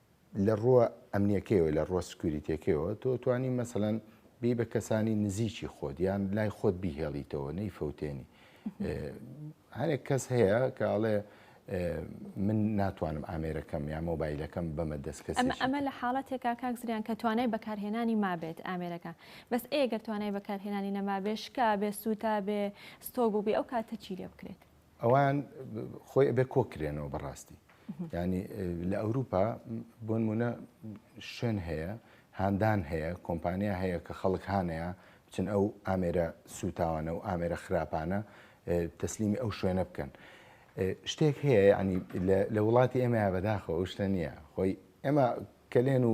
لە ڕووە ئەمنیەکەیەوە لە ڕووە سکوریتیەکەیەوە تۆ توانی مەسەلەن بی بە کەسانی نزیکی خۆت یان لای خۆت بیهێڵیتەوە نەی فەوتێنی هەرێک کەس هەیە کە ئەڵێ من ناتوانم ئامێرەکەم یا مۆبایلەکەم بەمە دەستکەس ئەمە لە حاڵەتێکا کاک زریان کە توانای بەکارهێنانی مابێت ئامێرەکە بەس ئێگەر توانای بەکارهێنانی نەمابێ شکا بێ سووتا بێ ستۆ بووبێ ئەو کاتە چی لێ بکرێت ئەوان خۆی ئەبێ کۆکرێنەوە بەڕاستی ینی لە ئەوروپا بۆن مونە شوێن هەیە هاندان هەیە کۆمپانیا هەیە کە خەڵک هاانەیە بچن ئەو ئامێرە سووتاوانە و ئامێرە خراپانە تەسلیمی ئەو شوێنە بکەن. شتێک هەیە ینی لە وڵاتی ئێمە بەداخەوە شتە نییە خۆی ئێمە کەلێن و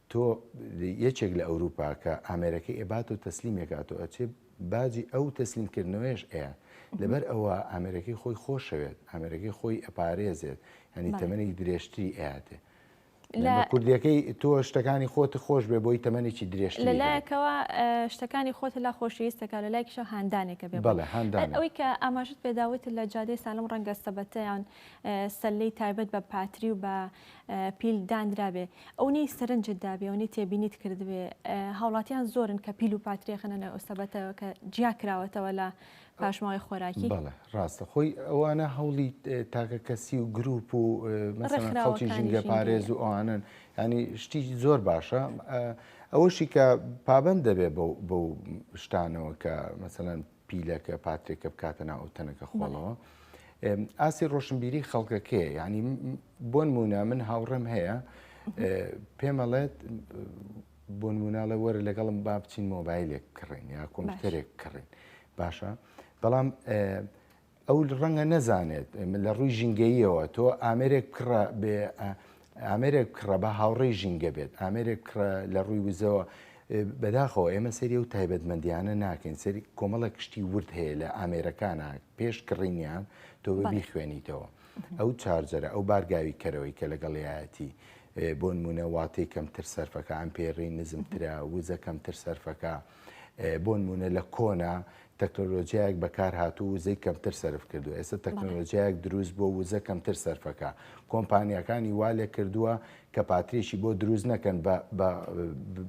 تۆ یەکێک لە ئەوروپا کە ئامێرەکەی ئەبات و تەسلیمێک ئاتۆ ئەچێ باجی ئەو تەسلیم کردنەوەیش ئەیە لەبەر ئەوە ئامێرەکەی خۆی خۆشەوێت ئامێرەکەی خۆی ئەپارێزێت هەنی تەمەنی درێژتری ئەاتێ لە کوردیەکەی تۆ شتەکانی خۆت خۆش بێ بۆی تەمەێکی درێژ لە لایەکەوە شتەکانی خۆت لا خۆشویستەکە لە لایکیشە هاندانێکە بێ بەڵێ هاندان ئەوەی کە ئاماژت پێداوت لە جادەی سالم ڕەنگە سەبەتەیان سەللەی تایبەت بە پاتری و بە پیل دانرابێ ئەونەی سەرنجت دابێ ئەونەی تێبینیت کردبێ هاوڵاتیان زۆرن کە پیل و پاتری خەنە ناو ئەو سەبەتەوە کە جیا کراوەتەوە لە پاشماوەی خۆراکی بەڵێ ڕاستە خۆی ئەوانە هەوڵی تاکە کەسی و گروپ و مەسەلەن خەڵکی ڕێکخراوەکانی ژینگە ژینگەیە. پارێز و ئەوانن ینی شتی زۆر باشە ئەوەشی کە پابەند دەبێ بەو بەو شتانەوە کە مەسەلەن پیلەکە پاترێکە بکاتە ناو ئەو تەنەکە خۆڵەوە ئاسی ڕۆشنبیری خەڵکەکەیە ینی بۆن مونە من هاوڕێم هەیە پێمەڵێت بۆن مناڵە وەرە لەگەڵم با بچین مۆبایلێک کڕین یا کۆمپیوتەرێک کڕین باشە بەڵام ئەو ڕەنگە نەزانێت لە ڕووی ژینگەییەوە تۆ ئامێرێک بکڕە بێ ئامێرێک بکڕە بە هاوڕێی ژینگە بێت ئامێرێک بکڕە لە ڕووی وزەوە بەداخەوە ئێمە سەری و تایبەتمەندیانە ناکەین سەری کۆمەڵە کشتی ورد هەیە لە ئامێرەکانە پێش کڕینیان تۆ ببی خوێنیتەوە ئەو چارجەرە ئەو بارگاوی کەرەوەی کە لەگەڵیایەتی بۆ نمونە واتی کەمتر سەرفەکە ئەمپێری نزمترە وزە کەمتر سەرفەکە بۆنمونە لە کۆنا تەکنۆلۆژیایەک بەکارهاتوو وزەی کەمتر سرف کردو ئێستا تەکنۆلۆژیایەک دروست بۆ وزە کەمتر سەرفەکە کۆمپانیەکانی وا لێ کردووە کە پاتریشی بۆ دروست نەکەن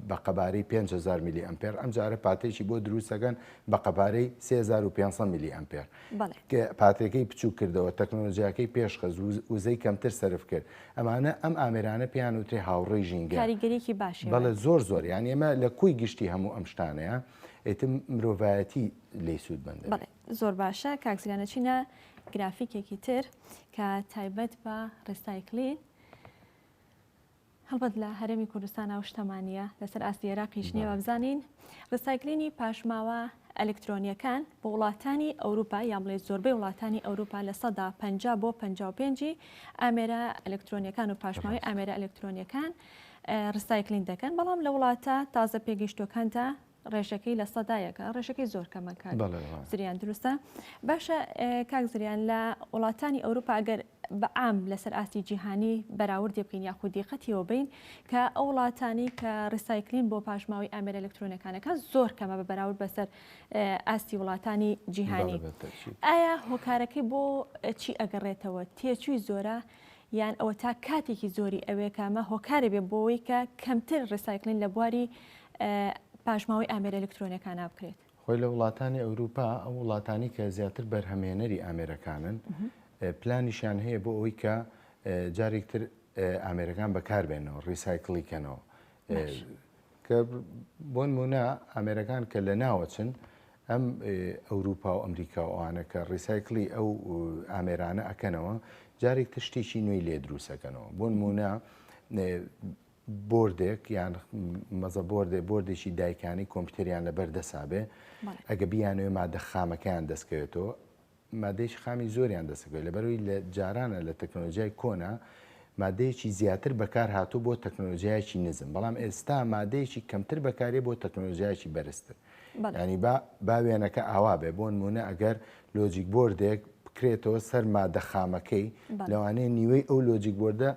بە قەبارەی 500 میلی ئەمپێر ئەم جارە پاتێکی بۆ دروستەکەن بە قەبارەی 3500 میلی ئەمپێر پاترێکەی بچووک کردەوە، تەکنۆلۆجیاکەی پێشخست، وزەی کەمتر سەرف کرد، ئەمانە ئەم ئامێرانە پێیان وترێ هاوڕێی ژینگە. کاریگەریی باشی هەیە. بەڵێ زۆر زۆر، یانی ئێمە لە کۆی گشتی هەموو ئەم شتانەیە، ئیتر مرۆڤایەتی لێی سوودمەند دەبێت. بەڵێ زۆر باشە، کاک زیلان ئەچینە گرافیکێکی تر کە تایبەت بە ڕیسایکلین. هەڵبەت لە هەرێمی کوردستان ئەو شتەمان نییە، لەسەر ئاستی ئێراقیش نییە. با بزانین ڕیسایکلینی پاشماوە ئەلکترۆنییەکان بۆ وڵاتانی ئەوروپا یان بڵێ زۆربەی وڵاتانی ئەوروپا لە سەدا پەنجا بۆ پەنجا و پێنج ی ئامێرە ئەلکترۆنییەکان و پاشماوەی ڕاستە ئامێرە ئەلکترۆنییەکان ڕیسایکلین دەکەن، بەڵام لە وڵاتە تازە پێگەیشتووەکاندا ڕێژەکەی لە سەدا یەکە ڕێژەکەی زۆر کەمە کاک بەڵێ بەڵێ. زریان دروستە باشە ئێ، کاک زریان لە وڵاتانی ئەوروپا ئەگەر بە عام لەسەر ئاستی جیهانی بەراوردی بکەین یاخود دیقەتیەوە بین کە ئەو وڵاتانی کە ڕیسایکلین بۆ پاشماوەی ئامێرە ئەلکترۆنەکانەکە زۆر کەمە بە بەراورد بەسەر ئێ، ئاستی وڵاتانی بەڵێ جیهانی بەتەئکید. ئایا هۆکارەکەی بۆ چی ئەگەڕێتەوە تێچووی زۆرە یان ئەوەتا کاتێکی زۆری ئەوێ کە ئەمە هۆکارێ بێ بۆوەی کە کەمتر ڕیسایکلین لە بواری پاشماوەی ئامێرە ئەلکترۆنیەکانا بکرێت؟ خۆی لە وڵاتانی ئەوروپا ئەو وڵاتانی کە زیاتر بەرهەمێنەری ئامێرەکانن پلانیشیان هەیە بۆ ئەوی کە جارێک تر ئامێرەکان بەکاربێنەوە ڕیسایکلی کەنەوە کە بۆن مونا ئامێرەکان کە لە ناوەچن هەم ئەوروپا و ئەمریکا و ئەوانە کە ڕیسایکڵی ئەو ئامێرانە ئەکەنەوە جارێک تر شتێکی نوێی لێ دروست ئەکەنەوە بۆ نموونە بۆردێک یان مەزە بۆردێ بۆردێکی دایکانی کۆمپیوتەریان لەبەر دەسابێ ئەگە بیانوێ مادە خامەکەیان دەستکەوێتەوە مادەیەکی خامی زۆریان دەسەکەوێت لەبەرئەوەی لە جارانە لە تەکنەلۆجیای کۆنە مادەیەکی زیاتر بەکارهاتوو بۆ تەکنەلۆجیایەکی نزم بەڵام ئێستا مادەیەکی کەمتر بەکارێ بۆ تەکنەلۆجیایەکی بەرزتر ینی با با وێنەکە ئاوا بێ بۆن مونە ئەگەر لۆجیک بردێک بکرێتەوە سەر مادە خامەکەی لەوانەیە نیوەی ئەو لۆجیک بردە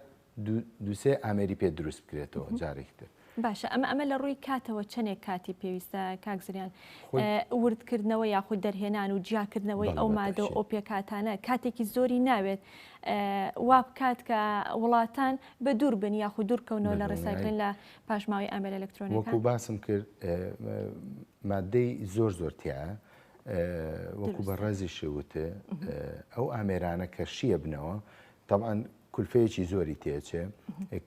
دوو سێ ئامێری پێ دروست بکرێتەوە جارێکی تر. باشە ئەمە ئەمە لە ڕووی کاتەوە چەندێک کاتی پێویستە کاک زریان خۆی- ئە، وردکردنەوە یاخود دەرهێنان و جیاکردنەوەی بەڵێ، ئەو بە مادە و تەئکید. ئۆپێکاتانە کاتێکی زۆری ناوێت ئە، وا بکات کە وڵاتان بە دوور بن یاخود دوور کەونەوە بە لە دڵنیایی. ڕیسایکلین لە پاشماوەی ئامێرە وەکو ئەلەکترۆنیەکان؟ باسم کرد ئە، مادەی زۆر زۆر تیایە ئە، وەکو دروستە. بەڕێزیشی وت ئە، ئەو ئامێرانە کە شیەبنەوە تەبعەن کولفەیەکی زۆری تێچێ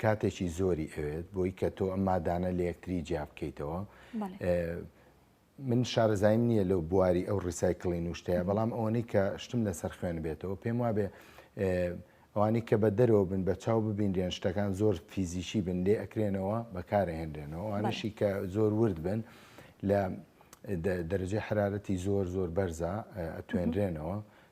کاتێکی زۆری ئەوێت بۆی کە تۆ ئەم مادانە لە یەکتری جیا بکەیتەوە من شارەزایم نییە لەو بواری ئەو ڕیسایکلی نوشتەیە بەڵام ئەوەی کە شتم لەسەر خوێن بێتەوە پێم وابێ ئەوانی کە بە دەرەوە بن بە چاو ببینرێن شتەکان زۆر فیزیکی بن لێ ئەکرێنەوە بەکارهێنرێنەوە ئەوانشی کە زۆر ورد بن لە دەرجەی حرارەتی زۆر زۆر بەرزە ئەتوێنرێنەوە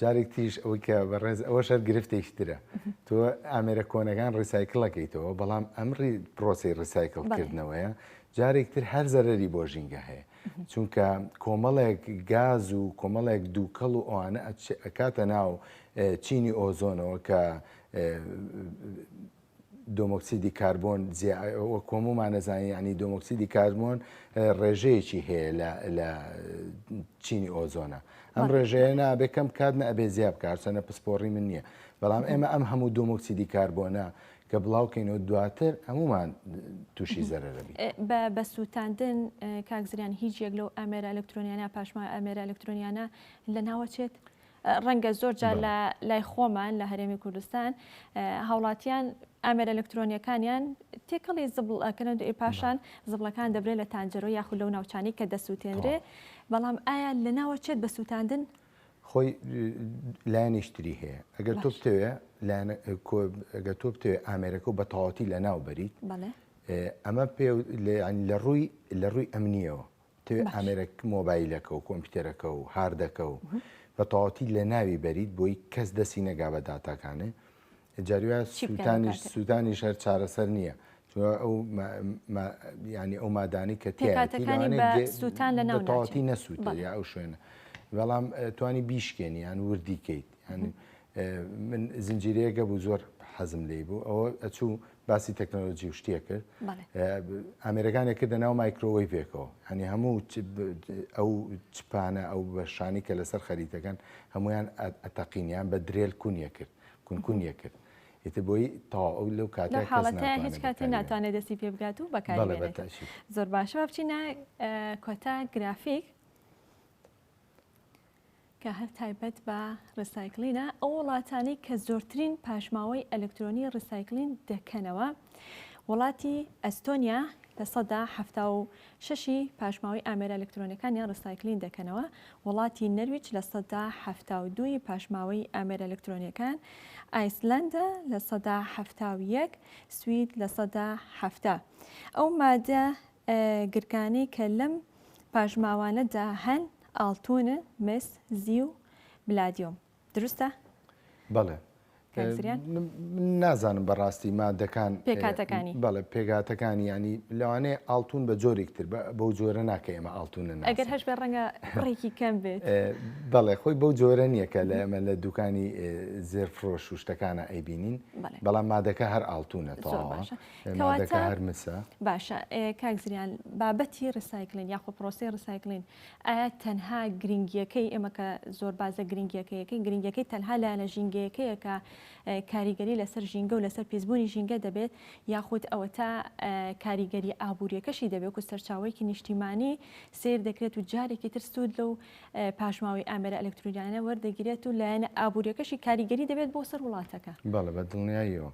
جارێک تریش ئەوەی کە بەڕێز ئەوە شەر گرفتێکی ترە تۆ ئامێرە کۆنەکان ڕیسایکلەکەیتەوە بەڵام ئەمری پرۆسی ڕیسایکلکردنەوەیە جارێک تر هەر زەرری بۆ ژینگە هەیە چونکە کۆمەڵێک گاز و کۆمەڵێک دووکەڵ و ئەوانە ئەکاتە ناو چینی ئۆزۆنەوە کە دۆمۆکسیدی کاربۆن وەکو هەموومان نەزانین یعنی دۆمۆکسیدی کاربۆن ڕێژەیەکی هەیە لە چینی ئۆزۆنە ئەم ڕێژەیە نابێ کەم بکات نە ئەبێ زیاب کارچەنە پسپۆڕی من نییە بەڵام ئێمە ئەم هەموو دۆمۆکسیدی کاربۆنە کە بڵاوکەینەوە دواتر هەمومان تووشی زەرەرەبی بە بە سووتاندن کاکزریان هیچ یەک لەو ئەمێرە ئەلکترۆنیانە پاشما ئەمێرە ئەلکترۆنیانە لە ناوەچێت ڕەنگە زۆر جار لە لای خۆمان لە هەرێمی کوردستان هاوڵاتیان ئامێرە ئەلکترۆنیەکانیان تێکەڵی زبڵ ئەکەن و پاشان زبڵەکان دەبرێت لە تانجەرۆ یاخود لەو ناوچانی کە دەسووتێنرێ بەڵام ئایا لە ناوە چێت بە سووتاندن خۆی لایەنیشتری هەیە ئەگەر تۆ بتەوێ ئەگە تۆ بتەوێ ئامێرەکە و بەتەواتی لە ناو بەریت ئەمە پێ لە ڕووی لە ڕووی ئەمنیەوە دەتەوێت ئامێرە مۆبایلەکە و کۆمپیوتەرەکە و هاردەکە و بە تەواوەتی لە ناوی بەریت بۆی کەس دەسی نەگا بە داتاکانێ جاریە سووتانیش سوودانی شەر چارەسەر نییە ئەو ینی ئەو مادانی کە تێکاتەکانیسووتان لە ناوتەواتی نەسووت یا ئەو شوێنە بەڵام توانی بیشکێنیان وردیکەیت یانی من زنجیرەیەگە بوو زۆر حەزم لی بوو ئەوە ئەچوو باسی تەکنەلۆجی و شتێ کرد ئامێرەکانێک کردە ناو مایکرۆوەی پێکەوە هەنی هەموو ئەو چپانە ئەو بەشانی کە لەسەر خەریتەکان هەمویان ئەتەقینیان بە درێل کونیە کرد کونکونیە کرد ئیتر بۆی تاو ئەو لەو کاتە حاڵەتە هیچ کاتی ناتوانێت دەستی پێ بگات و بەکار زۆر باشەوە بچینە کۆتا گرافیک کە هەر تایبەت بە ڕیسایکلینە، ئەو وڵاتانەی کە زۆرترین پاشماوەی ئەلکترۆنی ڕیسایکلین دەکەنەوە، وڵاتی ئەستۆنیا لە سەدا حەفتا و شەش ی پاشماوەی ئامێرە ئەلکترۆنیەکانیان ڕیسایکلین دەکەنەوە، وڵاتی نەرویج لە سەدا حەفتا و دوو ی پاشماوەی ئامێرە ئەلکترۆنیەکان، ئایسلەندا لە سەدا حەفتا و یەک، سوید لە سەدا حەفتا. ئەو مادە گرکانەی کە لەم پاشماوانەدا هەن ئاڵتوونن، مس، زیو، بلادیۆم. دروستە؟ بەڵێ. کاک زریان؟ من نازانم بە ڕاستی مادەکان. پێکهاتەکانی. بەڵێ پێکهاتەکانی یانی لەوانەیە ئاڵتوون بە جۆرێک تر بەو جۆرە ناکە ئێمە ئاڵتوون نەناسین. ئەگەر هەش بێ ڕەنگە ڕێکی کەم بێت. بەڵێ خۆی بەو جۆرە نییە کە لە ئێمە لە دووکانی زێرفرۆش و شتەکانە ئەیبینین. بەڵێ. بەڵام مادەکە هەر ئاڵتوونە تەواوە. زۆر باشە. کەواتە هەر مسە باشە کاک زریان بابەتی ڕسایکلین یاخۆ پرۆسی ڕسایکلین ئایا تەنها گرنگیەکەی ئێمە کە زۆر بازە گرنگیەکەیەکەی گرنگەکەی تەنها لایەنە ژینگەیەکەیەکە کاریگەری لەسەر ژینگە و لەسەر پیسبوونی ژینگە دەبێت یاخود ئەوە تا کاریگەری ئابوووریەکەشی دەبێت و سەرچاوەیەکی نیشتیمانی سیر دەکرێت و جارێکی تر سوود لەو پاشماوەی ئامێرە ئەلکترودیانە وەردەگیرێت و لایەنە ئابوووریەکەشی کاریگەری دەبێت بۆ سەر وڵاتەکە بەڵە بە دڵنیاییەوە.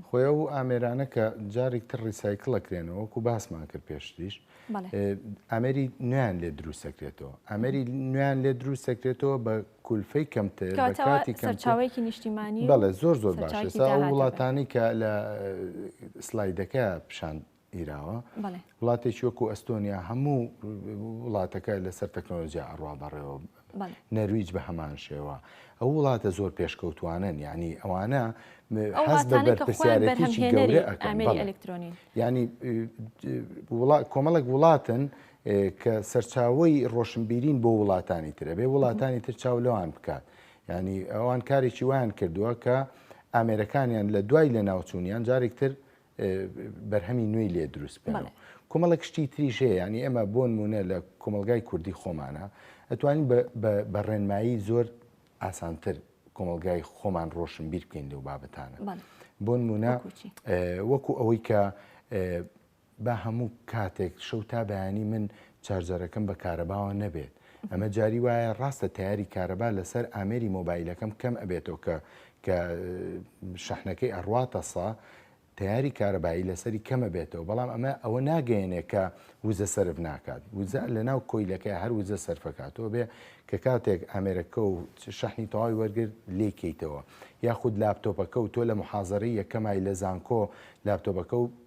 خۆی ئەو ئامێرانە کە جارێک تر ڕیسایکلەکرێنەوە وەکو باسمان کرد پێشتریش ئەمری نوێن لێ دروستەکرێتەوە ئەمری نوێن لێ دروستەکرێتەوە بە کولفەی کەمتر کاتی کەمچاوێکی نیشتیمانی بەڵێ زۆر زۆر باش وڵاتانی کە لە سلایدەکە پیشان گیراوە وڵاتێکی وەکو ئەستۆنیا هەموو وڵاتەکە لەسەر تەکنۆلۆژیا ئەڕوا بەڕێوە نەرویج بە هەمان شێوە ئەو وڵاتە زۆر پێشکەوتوانن ینی ئەوانە پرسیارێتیی گەورە ئەکەن ئەلکترۆنی ینی کۆمەڵک وڵاتن کە سەرچاوی ڕۆشنبیرین بۆ وڵاتانی ترە بێ وڵاتانی تر چاو لەوان بکات ینی ئەوان کارێکی وایان کردووە کە ئامێرەکانیان لە دوای لە ناوچوونیان جارێکتر بەرهەمی نوێی لێ دروست بێنەوە. بەڵێ. کۆمەڵێک شتی تریش هەیە، یانی ئێمە بۆ نموونە لە کۆمەڵگای کوردی خۆمانا ئەتوانین بە بە بە ڕێنمایی زۆر ئاسانتر کۆمەڵگای خۆمان ڕۆشنبیر بکەین لەو بابەتانە. بەڵێ. بۆ نموونە وەکوو چی؟ وەکوو ئەوەی کە با هەموو کاتێک شەو تا بەیانی من چارجەرەکەم بە کارەباوە نەبێت، ئەمە جاری وایە ڕاستە تەیاری کارەبا لەسەر ئامێری مۆبایلەکەم کەم ئەبێتەوە کە کە شەحنەکەی ئەڕواتە سە تیاری کارەبایی لەسەری کەمە بێتەوە بەڵام ئەمە ئەوە ناگەێنێ کە وزە سرف ناکات وزە لە ناو کۆیلەکە هەر وزە سەرفەکاتەوە بێ کە کاتێک ئامێرەکە و شەحنی تەواوی وەرگرت لێکەیتەوە یاخود لاپتۆپەکە و تۆ لە محازرە یەکەمای لە زانکۆ لاپتۆپەکە و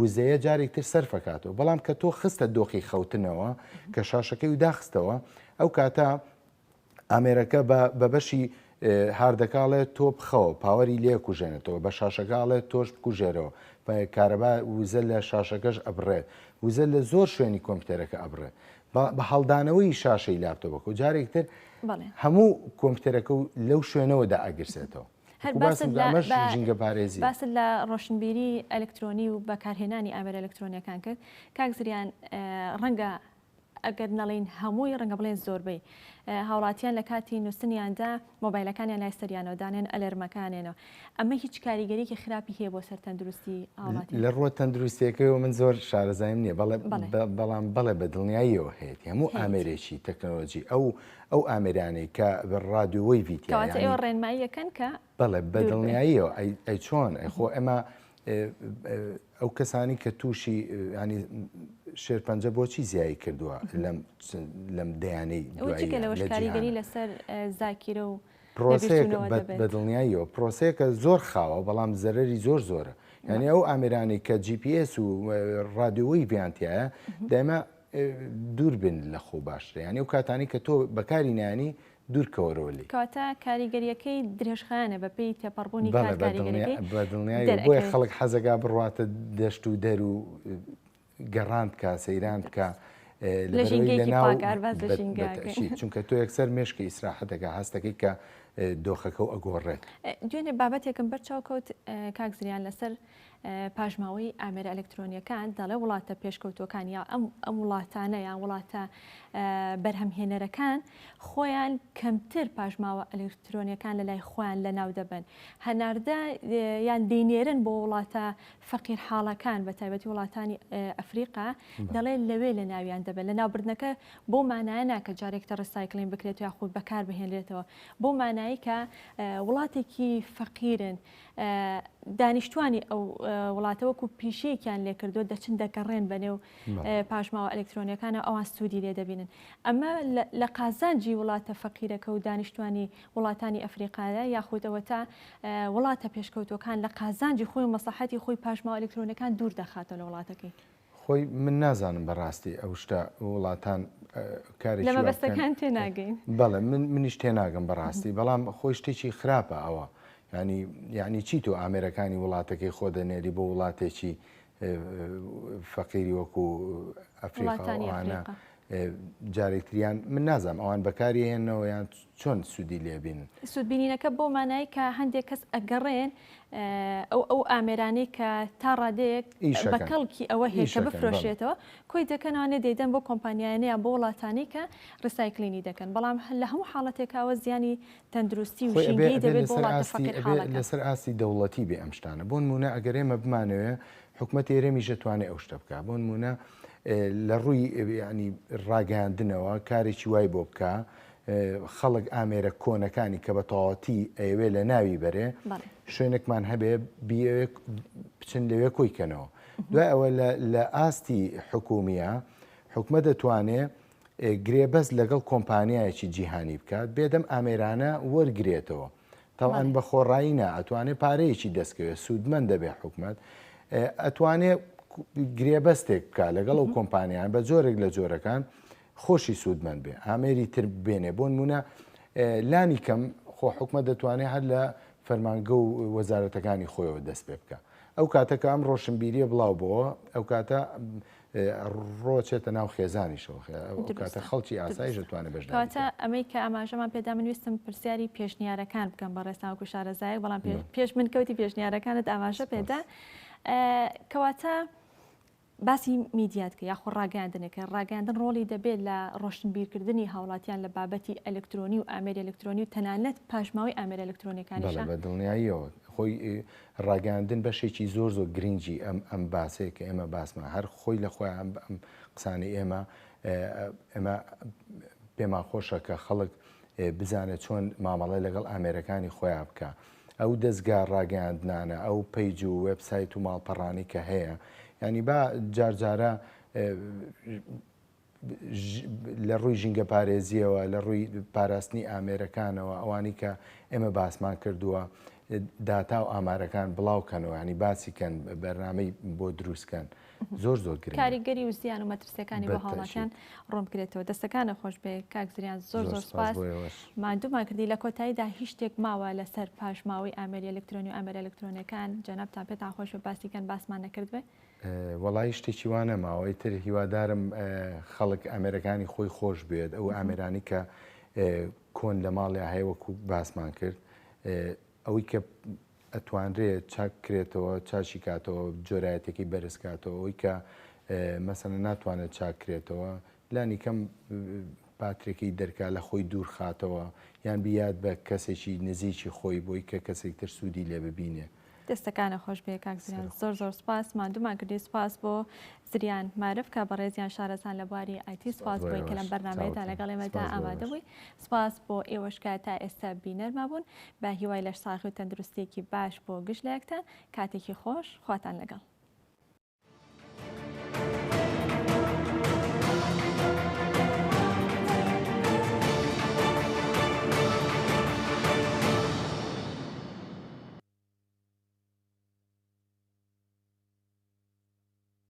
وزەیە جارێک تر سەرفەکاتەوە بەڵام کە تۆ خستە دۆخی خەوتنەوە کە شاشەکەی و داخستەوە ئەو کاتە ئامێرەکە بە بەشی هاردەکاڵێ تۆ بخەوە پاوەری لێ کوژێنێتەوە بە شاشەکەڵێ تۆش بکوژێرەوە کارەبا وزە لە شاشەکەش ئەبڕێت وزە لە زۆر شوێنی کۆمپیوتەرەکە ئەبڕێت بە هەڵدانەوەی شاشەی لاپتۆبەکە و جارێکتر هەموو کۆمپیوتەرەکە و لەو شوێنەوەدا ئەگرسێتەوە هەر باست لە ئەمەش بە ژینگەپارێزی. باست لە ڕۆشنبیری ئەلکترۆنی و بەکارهێنانی ئامێرە ئەلکترۆنییەکان کرد، کاک زریان ڕەنگە ئەگەر نەڵێین هەمووی ڕەنگە بڵێن زۆربەی هاوڵاتیان لە کاتی نووستنیاندا مۆبایلەکانیان لای سەریانەوە دانێن ئەلەرمەکانێنەوە ئەمە هیچ کاریگەریکی خراپی هەیە بۆ سەر تەندروستی هاوڵاتی لە ڕووە تەندروستیەکەیەوە من زۆر شارەزایم نییە بەڵێ بەڵێ بەڵام بەڵێ بە دڵنیاییەوە هەیەتی هەموو ئامێرێکی تەکنەلۆجی ئەو ئەو ئامێرانەی کە ڕادیۆ وەیڤی تیایە کەواتە ئێوە ڕێنمایی ئەکەن کە بەڵێ بە دڵنیاییەوە ئەی چۆن ئەی خۆ ئێمە ئەو کەسانی کە تووشی ینی شێرپەنجە بۆچی زیایی کردووە لەم لەم دەیانەی کاریگەری لەسەر زاکیرە و پرۆسێک بە دڵنیاییەوە پرۆسەیەکە زۆر خاوە بەڵام زەرری زۆر زۆرە یعنی ئەو ئامرانی کە GPS و ڕادیۆی بیانتیایە دایمە دووربن لە خۆو باشترە یانی ئەو کاتانەی کە تۆ بەکاری نایەنی دوورکەوەرەوە لێی. کەواتە کاریگەریەکەی درێژخایەنە بە پێی تێپەڕبوونی کات کاریگەریەکەی دەرئەکەوێت. بەڵێ بەدڵنیایی وە بۆیە خەڵک حەزەکا بڕواتە دەشت و دەر و گەڕان بکا سەیران بکا لە ژینگەیەکی پاک هەر باس لە ژینگە ئەکەین. چونکە تۆ یەکسەر مێشکی ئیسراحەت دەکا هەست دەکەی کە دۆخەکەو ئەگۆڕێت. دوێنێ بابەتێکم بەر چاو کەوت کاک زریان لەسەر. پاشماوەی ئامێرە ئەلکترۆنیەکان دەڵێ وڵاتە پێشکەوتوەکان یا ئەم ئەم وڵاتانە یان وڵاتە بەرهەمهێنەرەکان خۆیان کەمتر پاشماوە ئەلکترۆنیەکان لە لای خۆیان لە ناو دەبن هەناردە یان دەینێرن بۆ وڵاتە فەقیر حاڵەکان بە تایبەتی وڵاتانی ئەفریقا دەڵێن لەوێ لە ناویان دەبن لە ناوبردنەکە بۆ مانایە ناکە جارێکتە ڕسایکلین بکرێت یاخود بەکار بهێنرێتەوە بۆ مانایی کە وڵاتێکی فەقیرن دانیشتوانی ئەو وڵاتە وەکو پیشەیەکیان لێکردو دەچن دەگەڕێن بە نێو پاشماوە ئەلکترۆنیەکانە ئەوان سوودی لێ دەبینن ئەمە لە قازانجی وڵاتە فەقیرەکە و دانیشتوانی وڵاتانی ئەفریقاە یاخودەوە تا وڵاتە پێشکەوتوەکان لە قازانجی خۆی مەسەحەتی خۆی پاشماوە ئەلکترۆنەکان دوور دەخاتەوە لە وڵاتەکەی. خۆی من نازانم بەڕاستی ئەو شتە وڵاتان کارێکی وا بکەن. لە مەبەستەکان تێناگەین. بەڵێ من منیش تێناگەم بەڕاستی بەڵام خۆی شتێکی خراپە ئەوە. یانی یانی چی تۆ ئامێرەکانی وڵاتەکەی خۆ دەنێری بۆ وڵاتێکی فەقیری وەکو ئەفریقا و ئەوانە جارێکتریان من نازانم ئەوان بەکاریهێنەوە یان چۆن سودی لێبین؟ سودبینینەکە بەو مانای کە هەندێک کەس ئەگەڕێن ئەو ئەو ئامێرانەی کە تا ڕادەیەک بە کەڵکی ئەوە هێشە بفرۆشێتەوە کۆی دەکەنەوەێ دەیدەن بۆ کۆمپانیایانەیە بۆ وڵاتانی کە ڕسایکلینی دەکەن بەڵام هەل لە هەموو حاڵەتێکەوە زیانی تەندروستی و ژینگەی دەبێت بۆ لەسەر ئاستی دەوڵەتی بێ ئەم شتانە بۆن مونە ئەگەرێمە بمانەوە حکوومەت ئێرەمی ژەتوانێ ئەو شتە بکە بۆن مونە لە ڕووی ینی ڕاگەاندنەوە کارێکی وای بۆ بکە خەڵک ئامێرە کۆنەکانی کە بە تەواوەتی ئەیەوێ لە ناوی بەرێ شوێنێکمان هەبێ بچن لەوێ کۆی کەنەوە دوای ئەوە لە ئاستی حکومیە حکومە دەتوانێ گرێبەست لەگەڵ کۆمپانیایەکی جیهانی بکات بێدەم ئامێرانە وەرگێتەوە تاوان بە خۆڕایی نا ئەتوانێ پارەیەکی دەستکەوێت سوودمەند دەبێ حکومت ئەتوانێ گرێبەستێک بکە لەگەڵ ئەو کۆمپانیان بە جۆرێک لە جۆرەکان خۆشی سوودمەند بێ ئامێری تر بێنێ بۆنمونە لانی کەم خۆ حکومە دەتوانێت هەر لە فەرمانگە و وەزارەتەکانی خۆیەوە دەست پێ بکە ئەو کاتەکە ئەم ڕۆشنبیریە بڵاو بۆەوە ئەو کاتە ڕۆچێتە ناو خێزانیشەوە کاتە خەڵکی ئاسایش دەتوانێت بەش ئەمەی کە ئاماژەمان پێدا من ویستم پرسیاری پێشنیارەکان بکەم بە ڕێستاوکو شارەزایە بەڵام پێش من کەوتی پێشنیارەکانت ئاماژە پێدا کەواتە باسی میدیات کە یاخۆ ڕاگەیاندنێک کە ڕاگەیاندن ڕۆڵی دەبێت لە ڕۆشنبیرکردنی هاوڵاتیان لە بابەتی ئەلکترۆنی و ئامێری ئەلکترۆنی و تەنانەت پاشماوەی ئامێرە ئەلکترۆنیەکانیشە؟ بەڵێ بە دڵنیاییەوە خۆی ڕاگەیاندن بەشێکی زۆر زۆر گرنگی ئەم ئەم باسەیە کە ئێمە باسمان هەر خۆی لە خۆی ئەم ئەم قسانی ئێمە ئێمە پێمان خۆشە کە خەڵک بزانێت چۆن مامەڵەی لەگەڵ ئامێرەکانی خۆیان بکە ئەو دەزگا ڕاگەیاندنانە ئەو پەیج و وێب سایت و ماڵپەڕانەی کە هەیە یانی با جار جارە لە ڕووی ژینگە پارێزیەوە لە ڕووی پاراستنی ئامێرەکانەوە ئەوانی کە ئێمە باسمان کردووە داتا و ئامارەکان بڵاوکەنەوە ینی باسیکەن بەرنمەی بۆ دروستکەن زۆر زۆر کاریگەری و زیان و مەترسیەکانی بۆ هاوڵاتیان ڕۆم کرێتەوە دەستەکانە خۆش بێ کاکزریان زۆر زۆر سپاس مادوومان کردی لە کۆتاییدا هیچ شتێک ماوە لەسەر پاشماوەی ئامری ئەلکترۆنی و ئامر ئەلکترۆنەکان جەنابتان پێتان خۆش بە باسیکەن باسمان نەکردێ وەڵی شتێکی وانە ماوەی تر هیوادارم خەڵک ئەمێرەکانی خۆی خۆش بێت ئەو ئامرانی کە کۆن لە ماڵی هەیە وەکو باسمان کرد ئەوەی کە ئەتوانرێ چاک کرێتەوە چاشی کاتەوە جۆرایەتەکەی بەرز کاتەوە ئەوەی کە مەسەنە ناتوانێت چاک کرێتەوە لانی کەم پاترێکی دەرکا لە خۆی دوور خاتەوە یان بیاد بە کەسێکی نزیکی خۆی بۆی کە کەسێک تر سوودی لێ ببینێ دەستەکانە خۆش بێ کاک زیران زۆر زۆر سپاس مادومان کردی سپاس بۆ زریان مارف کە بەڕێزیان شارەزان لە بواری ئای تی سپاس بۆی کە لەم بەرنامەیەدا لەگەڵ ئێمەدا ئامادە بووی سپاس بۆ ئێوەش کە تا ئێستا بینەرما بوون بە هیوای لەش ساغی و تەندروستیەکی باش بۆ گشت لایەکتان کاتێکی خۆش خواتان لەگەڵ